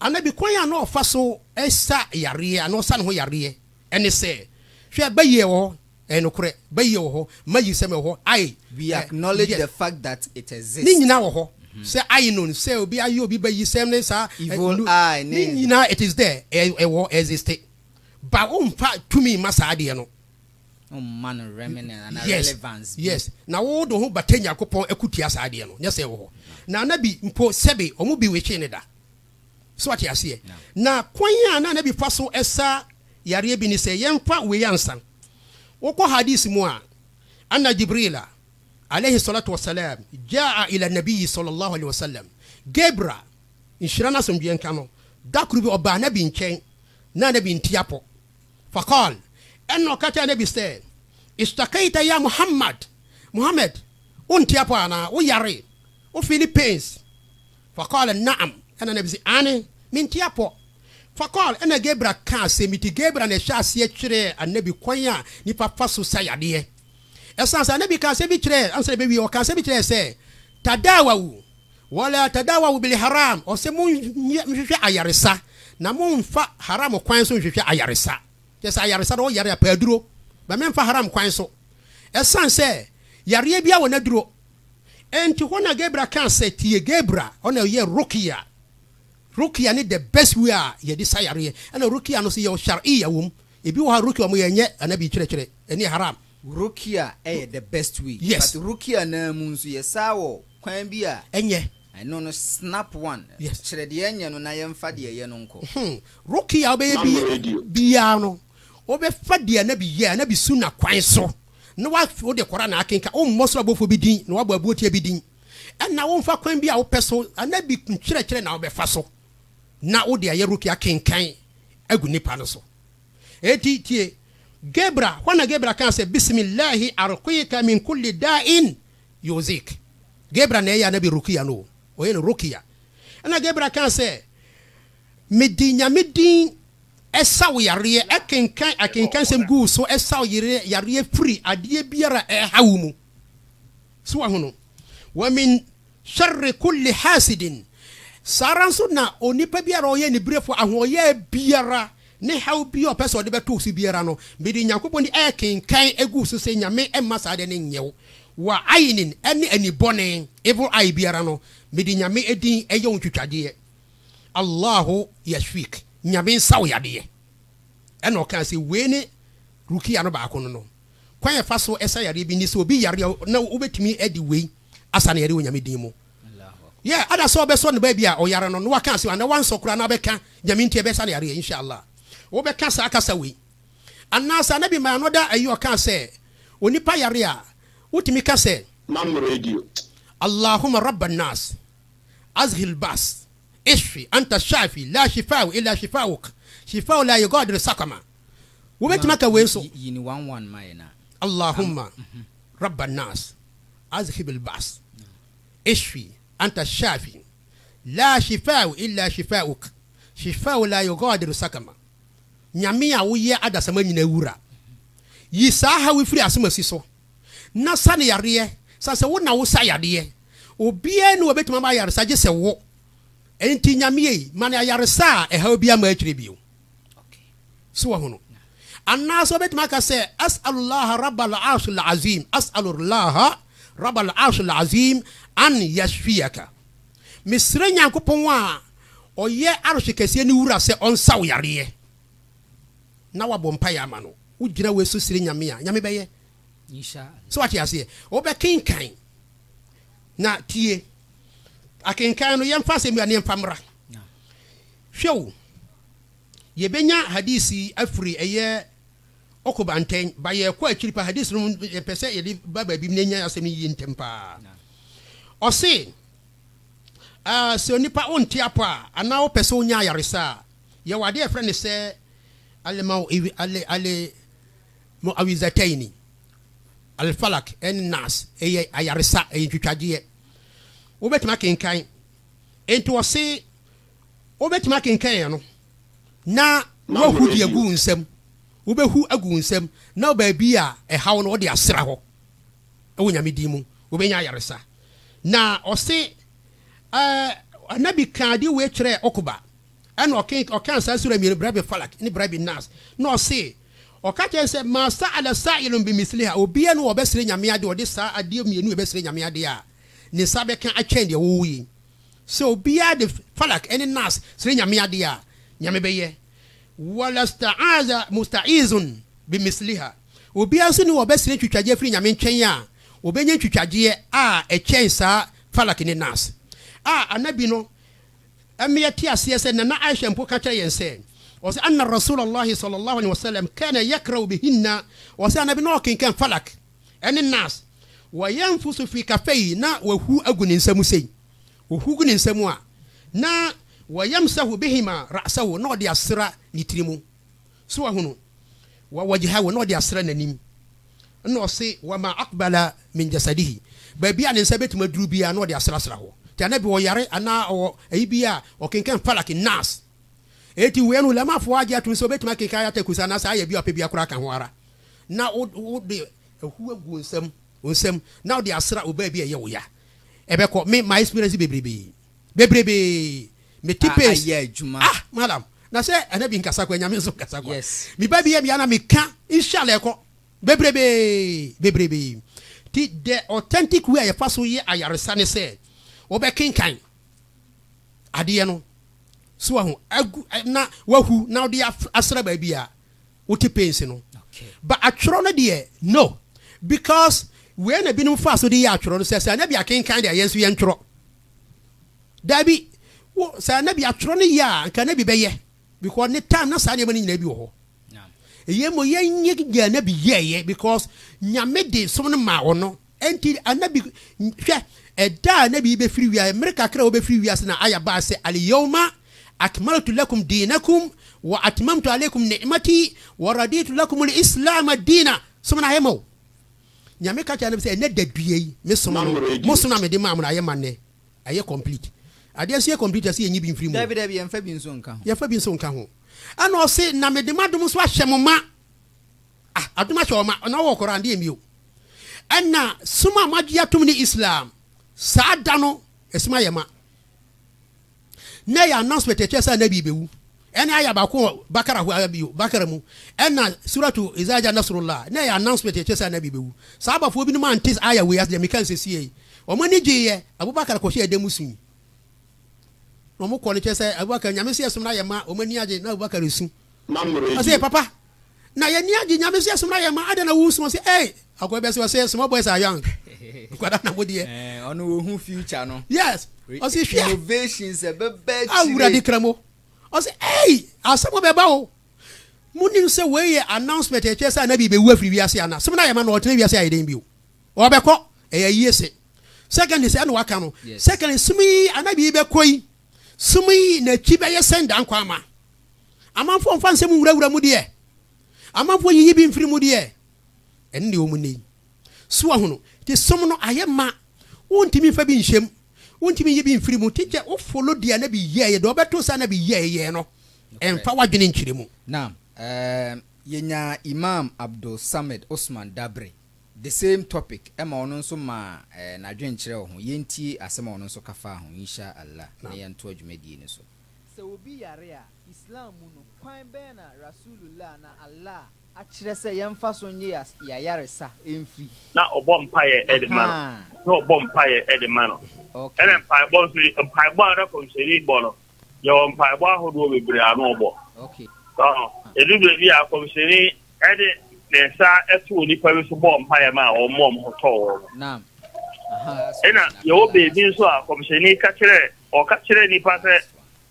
Annabi kwan a na ɔfa so sa yareɛ anaa ɔsa ne ho yareɛ ne sɛ, Hwɛ, ba yi wɔ hɔ, ɛyɛ nokorɛ, ba yi wɔ hɔ, ma yi nsɛm wɔ hɔ, aye, We acknowledge the fact that it exists. Ne nyinaa wɔ hɔ, sɛ aye no, sɛ obi aye obi ba yi sɛm ne saa, Evil eye ne. Ne nyinaa it is there, ɛwɔ hɔ, existe. Ba womfa tumi mma saa adeɛ no. ɔmma no remnant ana yes relevance bi. yes na wo de wo ho bata nyankopɔn akutia saa adeɛ no nyɛ sɛ wɔ hɔ na anabi mpo sɛbe ɔmo bi wetwee ne da so ate aseɛ na kwan a na anabi fa so ɛsa yareɛ bi ne sɛ yɛmfa wei ansa wokɔ hadis mu a anna jibrila alayhi salatu wasalam jaa ila nabiyi sallallahu alayhi wasallam gebra nhyira no asomdweɛ nka no da koro bi ɔbaa anabi nkyɛn na anabi nti apɔ Faqal, ɛnna ɔka kyerɛɛ Nabi sɛ, Ishtakaita ya Muhammad, Muhammad, wonte apɔ anaa? Woyare? Wo feeli pains? Faqal, Na'am, ɛnna Nabi se, Aane, mente apɔ. Faqal, ɛnna Gabira kaa asem nti Gabira na ɛhyɛɛ aseɛ kyerɛɛ Anabi kwan a nipa fa so sa yadeɛ. Ɛsane sɛ Anabi kaa asem bi kyerɛɛ, ansa na ɛbɛwie, ɔkaa asem bi kyerɛɛ sɛ, Tadaawawu, Wala tadawau bil haram, ɔse monyɛ nhwehwɛ ayaresa, na monfa haram kwan so nhwehwɛ ayaresa. Kyerɛ sɛ ayaresa no ɔyare a pɛ aduro, but menfa haram kwan so. Ɛsan sɛ yareɛ biara wɔ n'aduro. Enti hɔ na Gabriel kaa sɛ tie Gabriel, ɔna ɔyɛ Rukia. Rukia ne the best way a yɛde sa yareɛ. Ɛna Rukia no so yɛwɔ Shari'iyya wɔ mu. Ebi wɔ hɔ a Rukia wɔyɛ ɛnyɛ Anabi kyerɛkyerɛ, ɛno yɛ haram. Rukia yɛ the best way yes but rukia naa mu nso yɛ saa wɔ kwan bi a ɛnyɛ ɛno no snap one yes kyerɛ deɛ ɛnyɛ no na yɛnfa deɛ ɛyɛ no nkɔ. Hmm rukia wobɛyɛ bi biaa no wobɛ fa deɛ anabi yɛ anabi sunna kwan so na wa wode Quran akenka wo mmɔ soro abɔfoɔ bi din na wabɔ abuoteɛ bi din ɛna wo nfa kwan bi a wopɛ so anabi nkyerɛkyerɛ na wobɛ fa so na wode ayɛ rukia kenkan agu nipa no so Enti tie! Gabra, hɔ na Gabra kaa sɛ, Bisimillahi arqika min kulli da'in yu'zik. Gabra na ɛyɛ Anabi rukia no o, ɔyɛ no rukia. Ɛna Gabra kaa sɛ, Mede Nyame din sa wo yareɛ, ɛkenkan akenkansɛm gu wo so sa wo yareɛ firi adeɛ biara a ɛha wo mu. So wahu no? Wa min Sharri kulli haasidin, Saa ara nso na onipa biara a ɔyɛ aniberefoɔ, ahoɔyaa biara, ne haw biara a ɔpɛ sɛ ɔde bɛto wo so biara no, mede Nyankopɔn din rekenkan agu wo so sɛ Nyame mma saa adeɛ no nyɛ wo. Wa ayinin, ɛne ani bɔne, evil eye, biara no, mede Nyame din yɛ wo ntwitwadeɛ. Allahu yashfik, Nyame nsa wo yadeɛ. Ɛna ɔkaa sɛ wei ne Rukia no baako no no. Kwan a yɛfa so sa yareɛ bi ne sɛ obi yareɛ a na wobɛtumi de wei. asa ne yare wɔ Nyame din mu. Yɛ ada sɛ ɔbɛsɔ ne ba bi a ɔyare no na waka ase anaa wansɔ koraa na abɛka Nyame nti ɛbɛsa ne yareɛ Insha Allah. Wobɛka saa kasa wei. Anaa sɛ Anabi my another ayi ɔkaa sɛ onipa yare a wotumi ka sɛ. Mam radio. Allahuma Rabba An-Nas Azhib Al-Ba's Ishfi Anta Al-Shafi La Shifa'u Illa Shifa'uk Shifa'u La Yughadiru Saqama Wobɛtumi aka wei nso. Allahuma Rabba An-Nas. Azhib al-ba's, Ishfi anta ash-shafi, la shifa'u illa shifa'uk, shifa'u la yughadiru sakama, Nyame a woyɛ adasama nyina wura, yi saa haw yi firi asomasi so, na sa no yareɛ, sane sɛ wo na wo sa yareɛ, obiara nni hɔ a obɛtumi ama wo ayaresa gyesɛ wo, enti Nyame ei, ma no ayaresa a ɛhaw biara mma akyire bio. so wahu no anaasɛ ɔbɛtumi aka sɛ as'alullah rabal arshil azim as'alullah rabal arshil azim an yashfiyaka mesrɛ nyankopɔn a ɔyɛ arhye kɛseɛ no wura sɛ ɔnsa wo yareɛ na wabɔ mpaeɛ ama no wogyina wei so srɛ nyame a nyame bɛyɛ sɛ wate aseɛ wobɛkenkan na tie akenkan no yɛmfa asɛm bi a ne yɛmfa mmra Hwɛ o! Yɛbɛnya Hadith yi afiri ɛyɛ Uqba ntɛn, but yɛrekɔ akyiri paa, Hadith no yɛpɛ sɛ yɛde ba baabi na yɛnya asɛm no yie ntɛm paa. Ɔse, ah, sɛ onipa wonte apɔ a, anaa wopɛ sɛ wonya ayaresa a, yɛwɔ adeɛ a yɛfrɛ no sɛ Al-Mu'awizatayni, Al-Falaq ɛne Nas, ɛyɛ ayaresa, ɛyɛ ntwitwagyeɛ. Wobɛtumi akenkan. Enti ɔse. Wobɛtumi akenkan ɛno na woahu deɛ agu wo nsam. Wobɛhu agu wo nsam na baabi a ɛha wo no wode asra hɔ wɔ Nyame din mu. Wobɛnya ayaresa. Na ɔse ɛɛ Anabi kaa adeɛ wei kyerɛɛ Okuba ɛna ɔke ɔkaa saa sura mmienu Birabi Falak ne Birabi Nas na ɔse ɔka kyerɛ sɛ maa sa ala sa ilun bi misliha obiara no ɔbɛsrɛ Nyame adeɛ ɔde saa adeɛ mmienu ɛbɛsrɛ Nyame adeɛ a ne nsa bɛka atwɛn deɛ wɔwɔ yi. Sɛ obiara de Falak ne Nas srɛ Nyame ade a, Nyame bɛyɛ. Wa la sta'aza musta'izun bi misliha. Obiara nso nni hɔ a ɔbɛsrɛ ntwitwagyeɛ afiri Nyame nkyɛn a, ɔbɛnya ntwitwagyeɛ a ɛkyɛn saa Falak ne Nas a Anabi no mmea te aseɛ sɛ Nana Aisha mpo ka kyerɛ yɛn sɛ, ɔse, Anna Rasulallaahi sallallaahu alaihi wasallam kaana yakra'u bihinna, ɔse, Anabi na ɔkenkan Falak ne Nas, wɔyɛ mfo so firi kafa yi na wɔahuw agu ne nsa mu sei. Wɔhuw gu ne nsa mu a, na wɔyamsahu bihima ra'sahu, na ɔde asra ne tiri mu. So wɔahunu? Wa wajhahu, na ɔde asra n'anim. Ɛnna ɔse, wa ma aqbala min jasadihi, baabi a ne nsa bɛtumi aduru biara na ɔde asrasra hɔ. Nti Annabi ɔyare anaa ɔwɔ ayi bi a, ɔkenkan Falaq, Nas. Enti wei no, Ulamafoɔ agye atom sɛ ɔbɛtumi akenkan Ayat-al-Kursi anaasɛ Ayah bi a ɔpɛ biara koraa ka ho ara. na wo wo de ahu agu wo nsam wo nsam na wode asra obaa bi a ɛyɛ wo ya ɛbɛkɔ me my experience bebrebe bebrebe me ti pace ayɛ adwuma ah madam na sɛ ɛna bi nkasa kwa nyame nso nkasa kwa yes me ba bi yɛ bia na me ka inshallah ɛkɔ bebrebe bebrebe ti the authentic way a yɛfa so yɛ ayaresa ne sɛ wobɛkenkan adeɛ no so wahu agu na wahu na wode asra baabi a wote pains no ba atwerɛ no deɛ no because wei na binom fa so de yɛ atwerɛ no sɛ sɛ anabi akenkan deɛ yɛn nso yɛn twerɛ daabi wo sɛ anabi atwerɛ no yɛ a nka anabi bɛyɛ because ne time na saa nneɛma no nyinaa bi wɔ hɔ ɛyɛ mo yɛnyɛ gya anabi yɛɛyɛ because nyame de som no maa ɔno Enti Annabi, hwɛ, ɛda a Annabi yi bɛfiri wiase, mmere kakra a ɔbɛfiri wiase na Aya baa sɛ, Al-yawma akmaltu lakum deenakum, wa atmamtu aleykum ni'matii, wa raditu lakumul islaama diina. Som na ayɛ ma wo. Nyame ka kyerɛɛ Annabi sɛ, ɛnnɛ dadua yi, me som no, mo som a mede maa mo no, ayɛ ma nnɛ. Ayɛ complete. Adeɛ nso yɛ complete a, ɛsɛ yɛnyi bi mfiri mu o. Daabi, daabi, yɛmfa bi nso nka ho. Yɛmfa bi nso nka ho. Ɛna ɔse, na mede m'adom nso ahyɛ mo ma. Ah adom ahyɛ wɔn ma, na wɔwɔ Koran deɛ mio. Ɛna som a moagye atom ne Islam. Saa da no, ɛsom ayɛ ma. Na ɛyɛ announcement ɛkyerɛ sɛ Anabi bɛwu. Ɛne ayɛ baako wɔ Bakara ho ara bio, Bakara mu. Ɛna suratu Iza Jaa Nasrullah, na ɛyɛ announcement ɛkyerɛ sɛ Anabi bɛwu. Sahabafoɔ binom ante ayɛ wei ase deɛ meka nsesie yi. Wɔn ani gyeeɛ, Abubakar kɔhyɛ ɛdan mu sui. Na wɔn kɔ no kyerɛ sɛ Abubakar, Nyame sɛ ɛsom no ayɛ ma, wɔn ani agye, na Abubakar resu. Ɔsɛ papa, Na yɛn ani agye nyame sɛ soma yɛn ma adɛn na wo soma sɛ ei akɔ bɛ sɛ ɔsɛ small boys are young nkwadaa na mo deɛ eh, ɔno wɔhu future no yes ɔsɛ hwɛ innovation sɛ bɛbɛ akyire awurade kra mo ɔsɛ ei asɛm bɛba o monim sɛ wei yɛ announcement ɛkyerɛ sɛ anabi bɛwu afiri wiase ana sɛm no ayɛ ma no ɔtena wiase ayɛ dɛn bio ɔbɛkɔ ɛyɛ yie se secondly sɛ ɛna waka no secondly sum yi anabi yi bɛkɔ yi sum yi n'akyi bɛyɛ sɛn da nkwa ama Amanfoɔ mfa nsɛm nwurawura mu deɛ, amanfoɔ yiyi bi mfiri mu deɛ, ɛno deɛ wɔn nnɛ yi. So ahono, te som no ayɛ ma, wontumi mfa bi nhyɛm, wontumi nyi bi mfiri mu, te gyɛ wo folo deɛ na bi yɛɛyɛ, deɛ ɔbɛto saa na bi yɛɛyɛ no, ɛmfa w'adwene nkyerɛ mu. Naam, ɛɛm, yɛnyaa Imam Abdul Samad Osman Dabre, the same topic, ɛma ɔno nso maa ɛɛ n'adwenkyerɛ wɔ ho, yɛntie asɛm a ɔno nso ka faa ho, Insha Allah, na yɛntoa dwumadie no so. Sɛ obi yare a, Islam mu no, kwan bɛn na Rasulullah anaa Allah akyerɛ sɛ yɛmfa so nnye y'ayaresa mfiri? Na ɔbɔ mpaeɛ de ma no. Ahaa. Na ɔbɔ mpaeɛ de ma no. Ok. Ɛna mpaebɔ nso yi, mpaebɔ a na Kɔmhyɛni bɔ no, yɛwɔ mpaebɔ ahodoɔ bebree a na ɔbɔ. Ok. So, ɛduru berɛ bi a, Kɔmhyɛni de ne nsa too nnipa bi so bɔɔ mpaeɛ maa wɔn ma wɔn ho tɔɔ wɔn. Naam. Ahaa. Ɛna yɛwɔ baabi nso a Kɔmhyɛni ka kyerɛɛ Ɔka kyerɛɛ nnipa sɛ,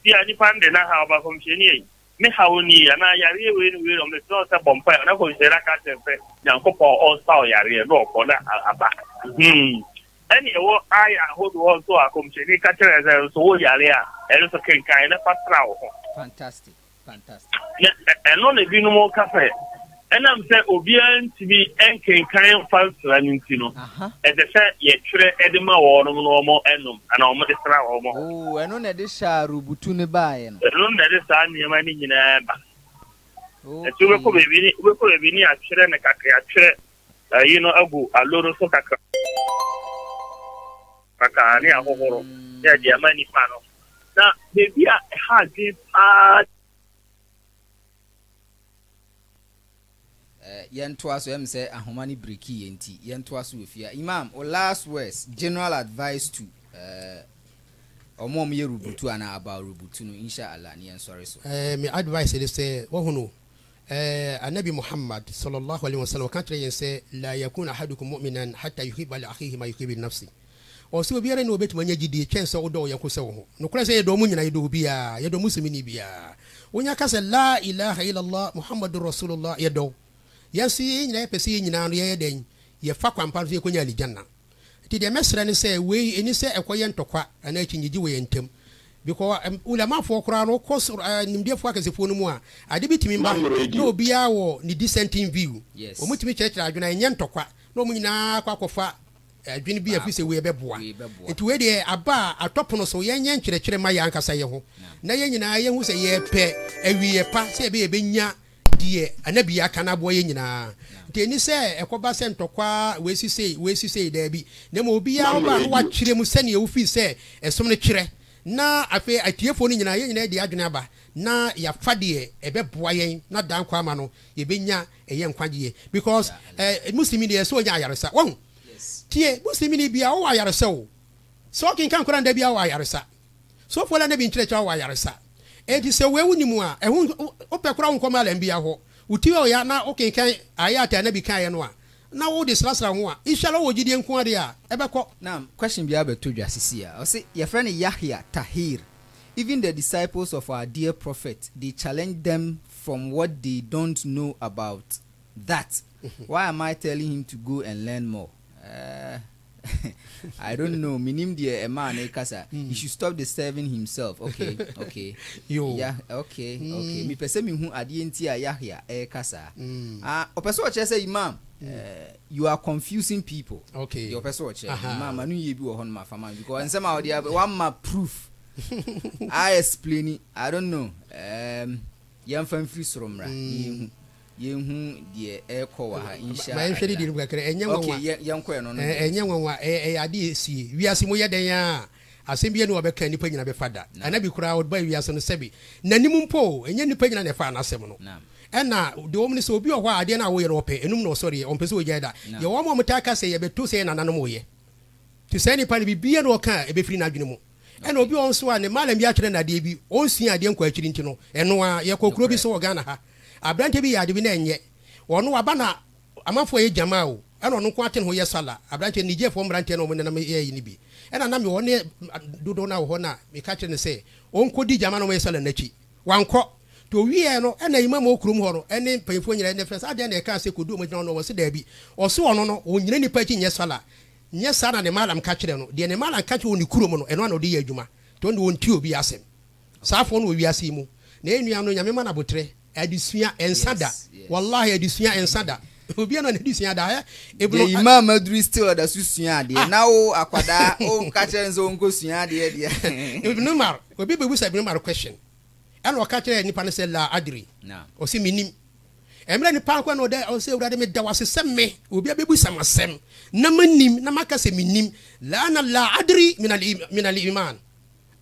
Bi a nnipa no de na haw ba nkɔmhyɛni ei, Me haw nie, anaa yareɛ wei ne wei na ɔmɛsrɛ wo sɛ bɔ mpaeɛ, na nkɔmhyɛni no aka akyerɛ no sɛ Nyankopɔn ɔnsaw yareɛ, na ɔkɔ na aba. Mhmm. Ɛne ɛwɔ aaya ahodoɔ hɔ nso a nkɔmhyɛni ka kyerɛɛ sɛ nso wo yare a, ɛno nso kenkan na fa sra wo ho. Fantastic. Na ɛno na ebinom ka sɛ ɛnam sɛ obiara ntumi nkenkan mfa nsra no nti no, ɛsɛ sɛ yɛtwerɛ de ma wɔn na wɔnom anaa wɔde sra wɔn. Oo, ɛno na ɛde sharubutu no baeɛ no? Ɛno na ɛde saa nneɛma no nyinaa ba. Nti wobɛkɔ baabi ne atwerɛ no kakra, atwerɛ Ayi no agu alo no so kakra kakra ne ahohoro ne ɛde ama nipa no na beebi a ɛha adwene paa. Eh, yɛntoa so ɛm sɛ ahoma ne biriki yɛ nti yɛntoa so wɔ fie imam o last words general advice to eh, ɔmo ɔmo yɛ rubutu anaa about rubutu no inshallah ne yɛnsɔre so eh, me advice ne sɛ wɔhono Ɛɛ, Annabi Muhammad, sala Allah alaih wa salam, ɔka kyerɛɛ yɛn sɛ, Laa yakun ahadukum mu'minan hatta yuhibba li akhihi ma yuhibbu li nafsi. Ɔse, Obiara nni hɔ a ɔbɛtumi anya gyidie kyɛn sɛ ɔdɔ ɔyɔnko sɛ wo ho. Nokorɛ sɛ yɛdɔ mo nyinaa, yɛdɔ obiara, yɛdɔ Muslimini biara. Wonya ka sɛ, Laa ilaah illallah Muhammadun Rasulullah, yɛdɔ wo. Yɛn nso yɛn nyinaa yɛpɛ sɛ yɛn nyinaa no yɛyɛ dɛn? Yɛfa kwan pa no so yɛkɔnya Alijannah. Nti deɛ mɛsrɛ ne sɛ wei ɛni sɛ ɛkɔyɛ ntɔkwa anaa akyinnyegye wɔ yɛn ntam. Because Ulamafoɔ koraa no, wokɔ nimdeɛfoɔ akɛsefoɔ no mu a, ade bi tumi ba na obiara wɔ ne dissenting view. Wɔtumi kyerɛkyerɛ adwene a ɛnyɛ ntɔkwa na wɔn nyinaa akɔ akɔfa adwene bi a ɛfiri sɛ wei ɛbɛboa. Nti wei deɛ aba a atɔ pono so, yɛnyɛ nkyerɛkyerɛ mma yɛn ankasa yɛn ho na yɛn nyinaa yɛhu sɛ yɛrepɛ awieeɛ pa sɛ ɛbɛyɛ yɛbɛnya deɛ anabie aka no aboa yɛn nyinaa nti ɛni sɛ ɛkɔba sɛ ntɔkwaa wei si sei wei si sei daabi na mmom obiara ɔba no wakyerɛ mu sɛdeɛ wofii sɛ ɛsom no kyerɛ na afei atiefoɔ no nyinaa yɛn nyinaa de adwene aba na yɛafa deɛ ɛbɛboa yɛn na daa nkwa ama no yɛbɛnya ɛyɛ nkwagyeɛ because eh, muslimi deɛ ɛsɛ ɔnya ayaresa wahu tie muslimi ni bia ɔwɔ ayaresa o sɛ ɔkenkan koraa nda bia ɔwɔ ayaresa Sɔfo na Nabi nkyerɛkyerɛ awɔ ayaresa. Enti sɛ wei wonni mu a, ɛho nhia, wopɛ koraa a wonkɔ malam biara hɔ. Wo ti ɔya na wokenkan Ayat a Nabi kaeɛ no a, na wode srasra ho a, Inshallah wowɔ gyidie nko ara deɛ a, ɛbɛkɔ. Naam, question bi abɛtɔ dwa seesei a, ɔse yɛfrɛ no Yahya Tahir, even the disciples of our dear prophet they challenge them from what they don't know about that, why am I telling him to go and learn more? Eeh. I don't know. Minim deɛ ɛmaa ne kasa. He hmm. should stop disturbing himself. Okay, okay. Yo. Yeah, okay, mm. okay. Mi pese mi hu adeɛ nti a Yahya ɛka saa. Mm. Ah, ɔpɛ sɛ ɔkyerɛ sɛ imam. Mm. Uh, you are confusing people. Okay. Deɛ ɔpɛ sɛ ɔkyerɛ. Imam anu yie bi wɔ hɔ no ma fa ma because nsɛm a ɔde aba wama proof. I explain it. I don't know. Um, Yɛmfa mfiri soro mmra na yɛnhu yɛnhu deɛ ɛrekɔ wɔ ha nhyia ma yɛnhwɛ ne deɛ no mu kakra ɛnyɛ nwanwa okay yɛnkɔɛ no no ɛnyɛ nwanwa ɛyɛ ade ɛsie wiase mu yɛ dɛn a asɛm bi ɛnu ɔbɛka nipa nyina bɛfa da anabi koraa ɔdeba wiase no sɛbi nanim mpo ɛnyɛ nipa nyina na ɛfa anasɛm no ɛna deɛ wɔm no sɛ obi ɔhɔ a adeɛ no a woyɛ no ɔpɛ ɛnum na ɔsɔreɛ ɔmpɛ sɛ ɔgyae da yɛ wɔm a ɔmtaa ka sɛ yɛbɛto sɛ yɛ nananom woyɛ nti saa nipa no bibia na ɔka a ɛbɛfiri n'adwene mu Ɛna obi wɔ hɔ nso a ne malam bi atwerɛ no adeɛ bi, ɔnsua adeɛ nkɔ akyiri nti no, ɛno ara. Yɛkɔ kuro bi so wɔ Ghana ha, aberanteɛ bi yɛ ade bi na ɛnyɛ. Ɔno waba na amanfoɔ yɛ gyamaa o, ɛna ɔno nko ara te ne ho yɛ sala. Aberanteɛ, Nigerfoɔ mmeranteɛ na wɔnenam yɛ ayi no bi. Ɛna na mewɔ ne dodoɔ no ara wɔ hɔ na meka kyerɛɛ no sɛ ɔnkɔdi gyamaa na wɔyɛ sala no akyi. Wankɔ. Nti ɔwieeɛ no, ɛna Imam wɔ kurom hɔ no ne mpanimfoɔ nyinaa, ɛna ɛfrɛɛ no sɛ, adɛn na ɛkaa sɛ kɔdi wɔn akyi na ɔno ɔse daabi. Ɔse ɔno no, ɔnnyina nnipa akyi nnyɛ sala. Nyɛ saa na Nemalam ka kyerɛɛ no. Deɛ Nemalam ka kyerɛ wɔ ne kurom no, ɛno ara na ɔde yɛ adwuma. Nti ɔno deɛ ɔntie obi asɛm. Saa afoɔ no wɔ wiase yi mu. Na yɛn nua no, Nyame mma no aboterɛ. Adesua, ɛnsa da. Wallahi, adesua, ɛnsa da. Obiara na n'adesua da. Hɛ! Ibn. Deɛ Imam Madri still ɔda so sua adeɛ. Ah! Na wo, akwadaa, wo ka kyerɛ no sɛ ɔnkɔ sua adeɛ deɛ. Ibn Umar, obi bɛbisa Ibn Umar question. Ɛna ɔka kyerɛɛ nipa no sɛ, Laa adri. Naam. Ɔse, Mennim. Mmerɛ nipa akɔ na ɔdɛ ɔsɛ Awurade me da wo ase sɛ me obi a bɛbisa me asɛm na manim na maka sɛ mennim laana la adri min al iman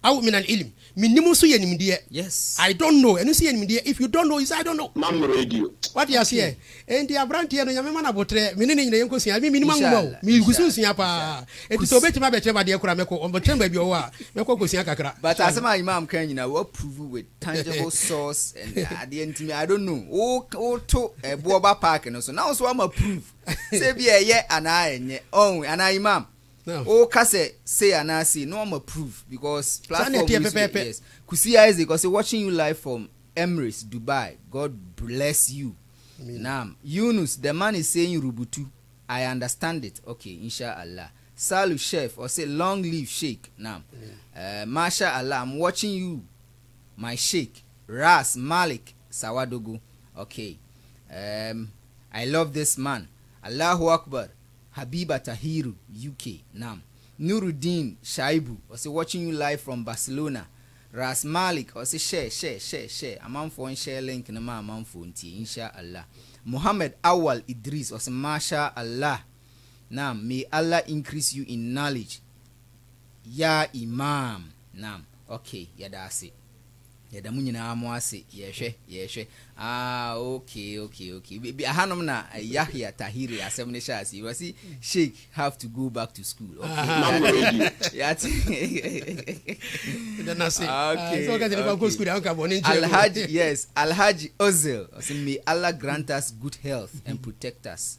aw min al ilm mennim nso yɛ nimdeɛ yes I don't know ɛno nso yɛ nimdeɛ if you don't know you say I don't know mam radio wate aseɛ okay. enti aberanteɛ no nyame ma no abotrɛ me ne ne nyina yɛnkɔsua me menim anwoma o megu so nsua paa enti sɛ ɔbɛtumi abɛkyerɛ madeɛ kora mɛkɔ ɔbɛkyerɛ baabi ɔwɔ a mɛkɔ kɔsua kakra but asɛm a imam ka nyina wɔ approve with tangible source and adeɛ ntumi I don't know wo wo to ɛboɔ ba park no so na wo so ama prove sɛ bi ɛyɛ anaa ɛnyɛ ɔn anaa imam wo ka sɛ say anaa say na wama prove because platform yi so yes Kusi Isaac ɔsɛ watching you live from Emirates Dubai God bless you naam Yunus the man is saying rubutu I understand it okay inshallah Salu chef ɔse long live sheik nam eh masha Allah am watching you my sheik ras malik sawadogo ok ehm I love this man Allahu akbar habiba tahiru UK nam Nurudeen shaibu ɔse watching you live from Barcelona ras malik ɔse share share share share amanfoɔ nhyɛɛ link no ma amanfoɔ ntie insha Allah Mohammed awal idris ɔse masha Allah Naam may Allah increase you in knowledge yaa Imaam naam ok yɛda ase yɛda mo nyinaa mo ase yɛhwɛ yɛhwɛ ah ok ok ok bi ahanom na Yahya Tahiri asɛm ne hyɛ ase yi wɔsi sheik have to go back to school ok yɛate Alhaji yes Alhaji Ozil ɔsi may Allah grant us good health and protect us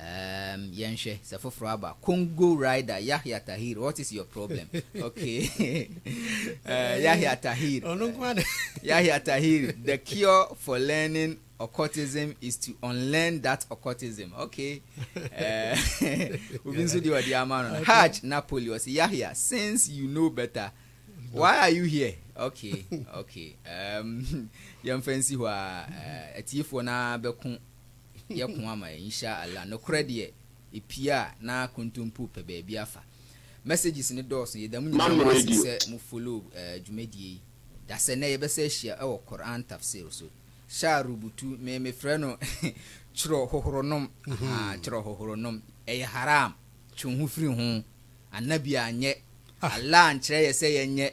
Um, yɛnhwɛ sɛ foforɔ aba. Congo rider Yahya Tahir, what is your problem? okay. uh, Yahya Tahir. Yahya Tahir, the cure for learning occultism is to unlearn that occultism. Okay. Eh, Obi nso di ɔdi ama no. Hajj Napoli ɔsi Yahya since you know better why are you here? Okay okay. Um, yɛn fɛn si hɔ a eh, atiefoɔ naa bɛko yɛ ko ama yɛ insha Allah nokorɛ deɛ ɛpie a na kontompo pɛ baabi afa messages no dɔɔso yɛda mo nyinaa mo ase sɛ mo follow dwumadie yi dasɛ nɛ yɛbɛsa ahyia wɔ Quran tafsir so hyɛ a rubutu me me frɛ no twerɛ hohoro nom ahaa twerɛ hohoro nom ɛyɛ haram twe wo ho firi ho Annabi anyɛ Allah ankyerɛ yɛ sɛ yɛnyɛ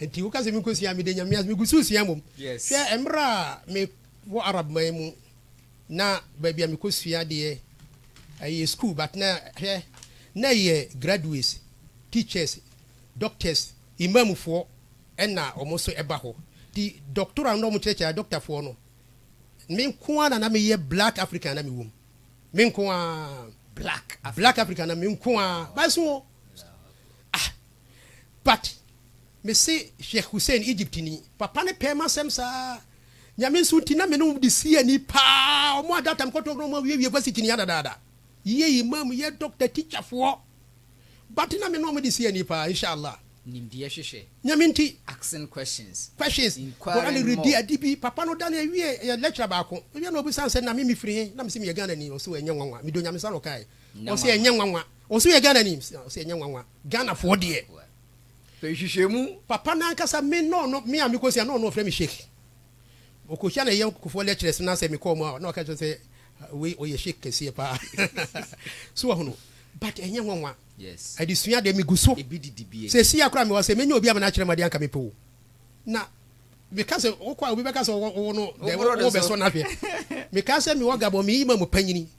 Nti woka sɛ menkɔsua mede nyame ase megu so sua mmom hwɛ mmerɛ a mewɔ arab man mu na baabi a mekɔsua deɛ ɛyɛ school but na hwɛ na ɛyɛ graduates teachers doctors imamfoɔ ɛna wɔn nso ɛba hɔ nti doctora no na wɔn kyerɛkyerɛ doctorfoɔ no me nko ara na na meyɛ black african na mewom me nko ara black black african na me nko ara bae so Ah but me se Sheikh Hussein Egypt ni papa no pɛɛ m'asɛm saa Nyame nso nti na me ne wɔn de si ani paa wɔn a data mekɔtɔ na wɔn awiewie varsity ni adadaada yɛ imam yɛ doctor teacher foɔ but na me ne wɔn de si ani paa inshallah Nimdeɛ hwehwɛ. Nyame nti. Asking questions. Questions. Inquiring more. Redi adi bi. Papa no da no awie yɛ lecturer baako. Ɔwie na ɔbisa sɛ na me mefiri he? Na mese meyɛ Ghanani. Ɔse ɛnyɛ nwanwa. Medɔ Nyame saa na ɔkae. Wɔn se ɛnyɛ nwanwa. Wɔn se woyɛ Ghanani? Wɔn se ɛnyɛ nwanwa. Ghanafoɔ deɛ. Pɛ nhwehwɛmu. Papa no ankasa me na ɔno, me a mekɔsua na ɔno ɔfrɛ me Sheikh. Ɔkɔhyia ne yɔnkofoɔ lecturers no asɛ mekɔ wɔn a na ɔka kyerɛ sɛ wei ɔyɛ Sheikh kɛseɛ paa. So wahunu? But ɛnyɛ nwanwa. Adesua deɛ megu so. Seesei a koraa mewɔ ha sɛ mɛnya obi ama no akyerɛ me adeɛ anka mepɛ o. Na meka sɛ wokɔ a obi bɛka sɛ ɔwɔ no dɛn wobɛsɔ no ahwɛ. Mekaa sɛ mewɔ Gabon meyɛ Imam panyini.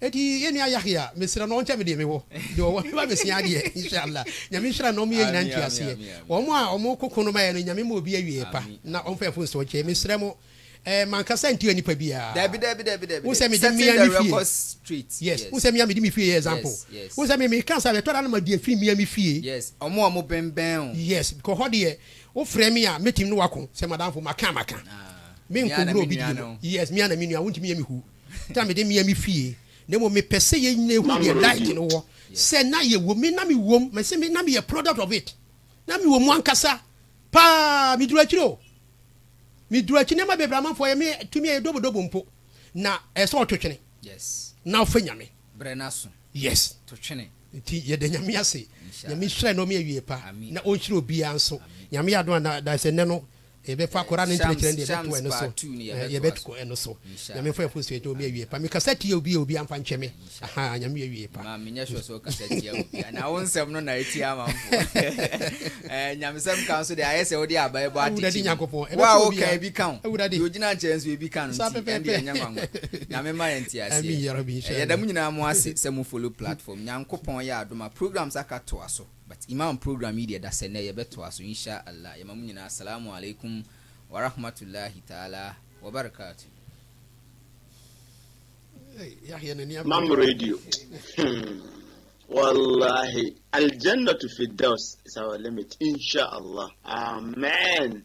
Eti yɛn nua Yahya, mesrɛ no ɔnkyɛ me deɛ mewɔ, deɛ ɔwɔ no ma mesua adeɛ, inshallah. Nyame nhyira no, ɔmo yɛ nyinaa ntuaseɛ. Ɔmo a ɔmo ko ko no maɛ no, Nyame ma obi awieɛ pa, na ɔmfa ɛfo nsa ɔkyɛ. Mesrɛ mo, ɛɛ mankasa ntua nipa biaa. Dabi, dabi, dabi, dabi, Wohu sɛ dabi. mede Setting mmea the me fie, record straight. yes, wohu Yes. sɛ mmea mede me fie yɛ example. Yes, yes. Wohu sɛ me, me ka saa, ɛtɔ da na ma di afiri mmea me fie. Yes, ɔmo a ɔmo bɛnbɛn wo. Yes, kɔ hɔ deɛ, wo frɛ me a, mɛtumi ne wo ako, sɛ m'adamfo, maka a maka. Ah, Me me ara na nkɔwura me obi nua deɛ mu. no. Yes, me ara na me nua, wontumi yɛ me hu. da a mede mia me fie, na mmom mepɛ sɛ yɛn nyinaa hu deɛ Light no wɔ, sɛ na yɛwom, me na mewom, mese me na meyɛ product of it, na mewɔ mu ankasa paa, meduru akyiri o, meduru akyiri, nneɛma bebree amanfoɔ yɛ me tumi a ɛdobodobo mpo, na ɛyɛ sɛ ɔto twene na ɔfɛ Nyame. Brɛ n'aso. Yes. To twene. Nti yɛda Nyame ase. Nyame nhyira na ɔme awie pa, na ɔnhyira obiara nso. Nyame yɛ adom a na daesɛ nnɛ no Yɛbɛfa Koraa no nkyerɛkyerɛ no deɛ yɛbɛto ɛno so na yɛbɛkɔ ɛno so Nyame mfa yɛmfo nsuo nkyɛ wo me awie pa me kasa tia obi a obi amfa nkyɛ me ahaa Nyame yɛ awie pa. Maa menyɛ sure sɛ wo kasa tia obi a na wo nsɛm no na ɛtia amanfoɔ eh, Nyamesɛm ka nso deɛ ayɛ sɛ wode aba ɛbɔ atekyi wo a wo ka ebi ka ho deɛ ogyina nkyɛn nso ebi ka no nti ɛnde ɛnyɛ nwanwa Nyame ma yɛ nteaseɛ yɛda mo nyinaa mo ase sɛ mo follow platform Nyankopɔn yɛ adom a programs aka toa so. But Imam program yi deɛ da sɛ nɛ yɛbɛtoa so insha Allah yɛma mo nyinaa Salamu alaikum warahmatullahi ta'ala wabarakatu. Mam radio hmm wallahi aljannatu firdaus is our limit insha Allah amen.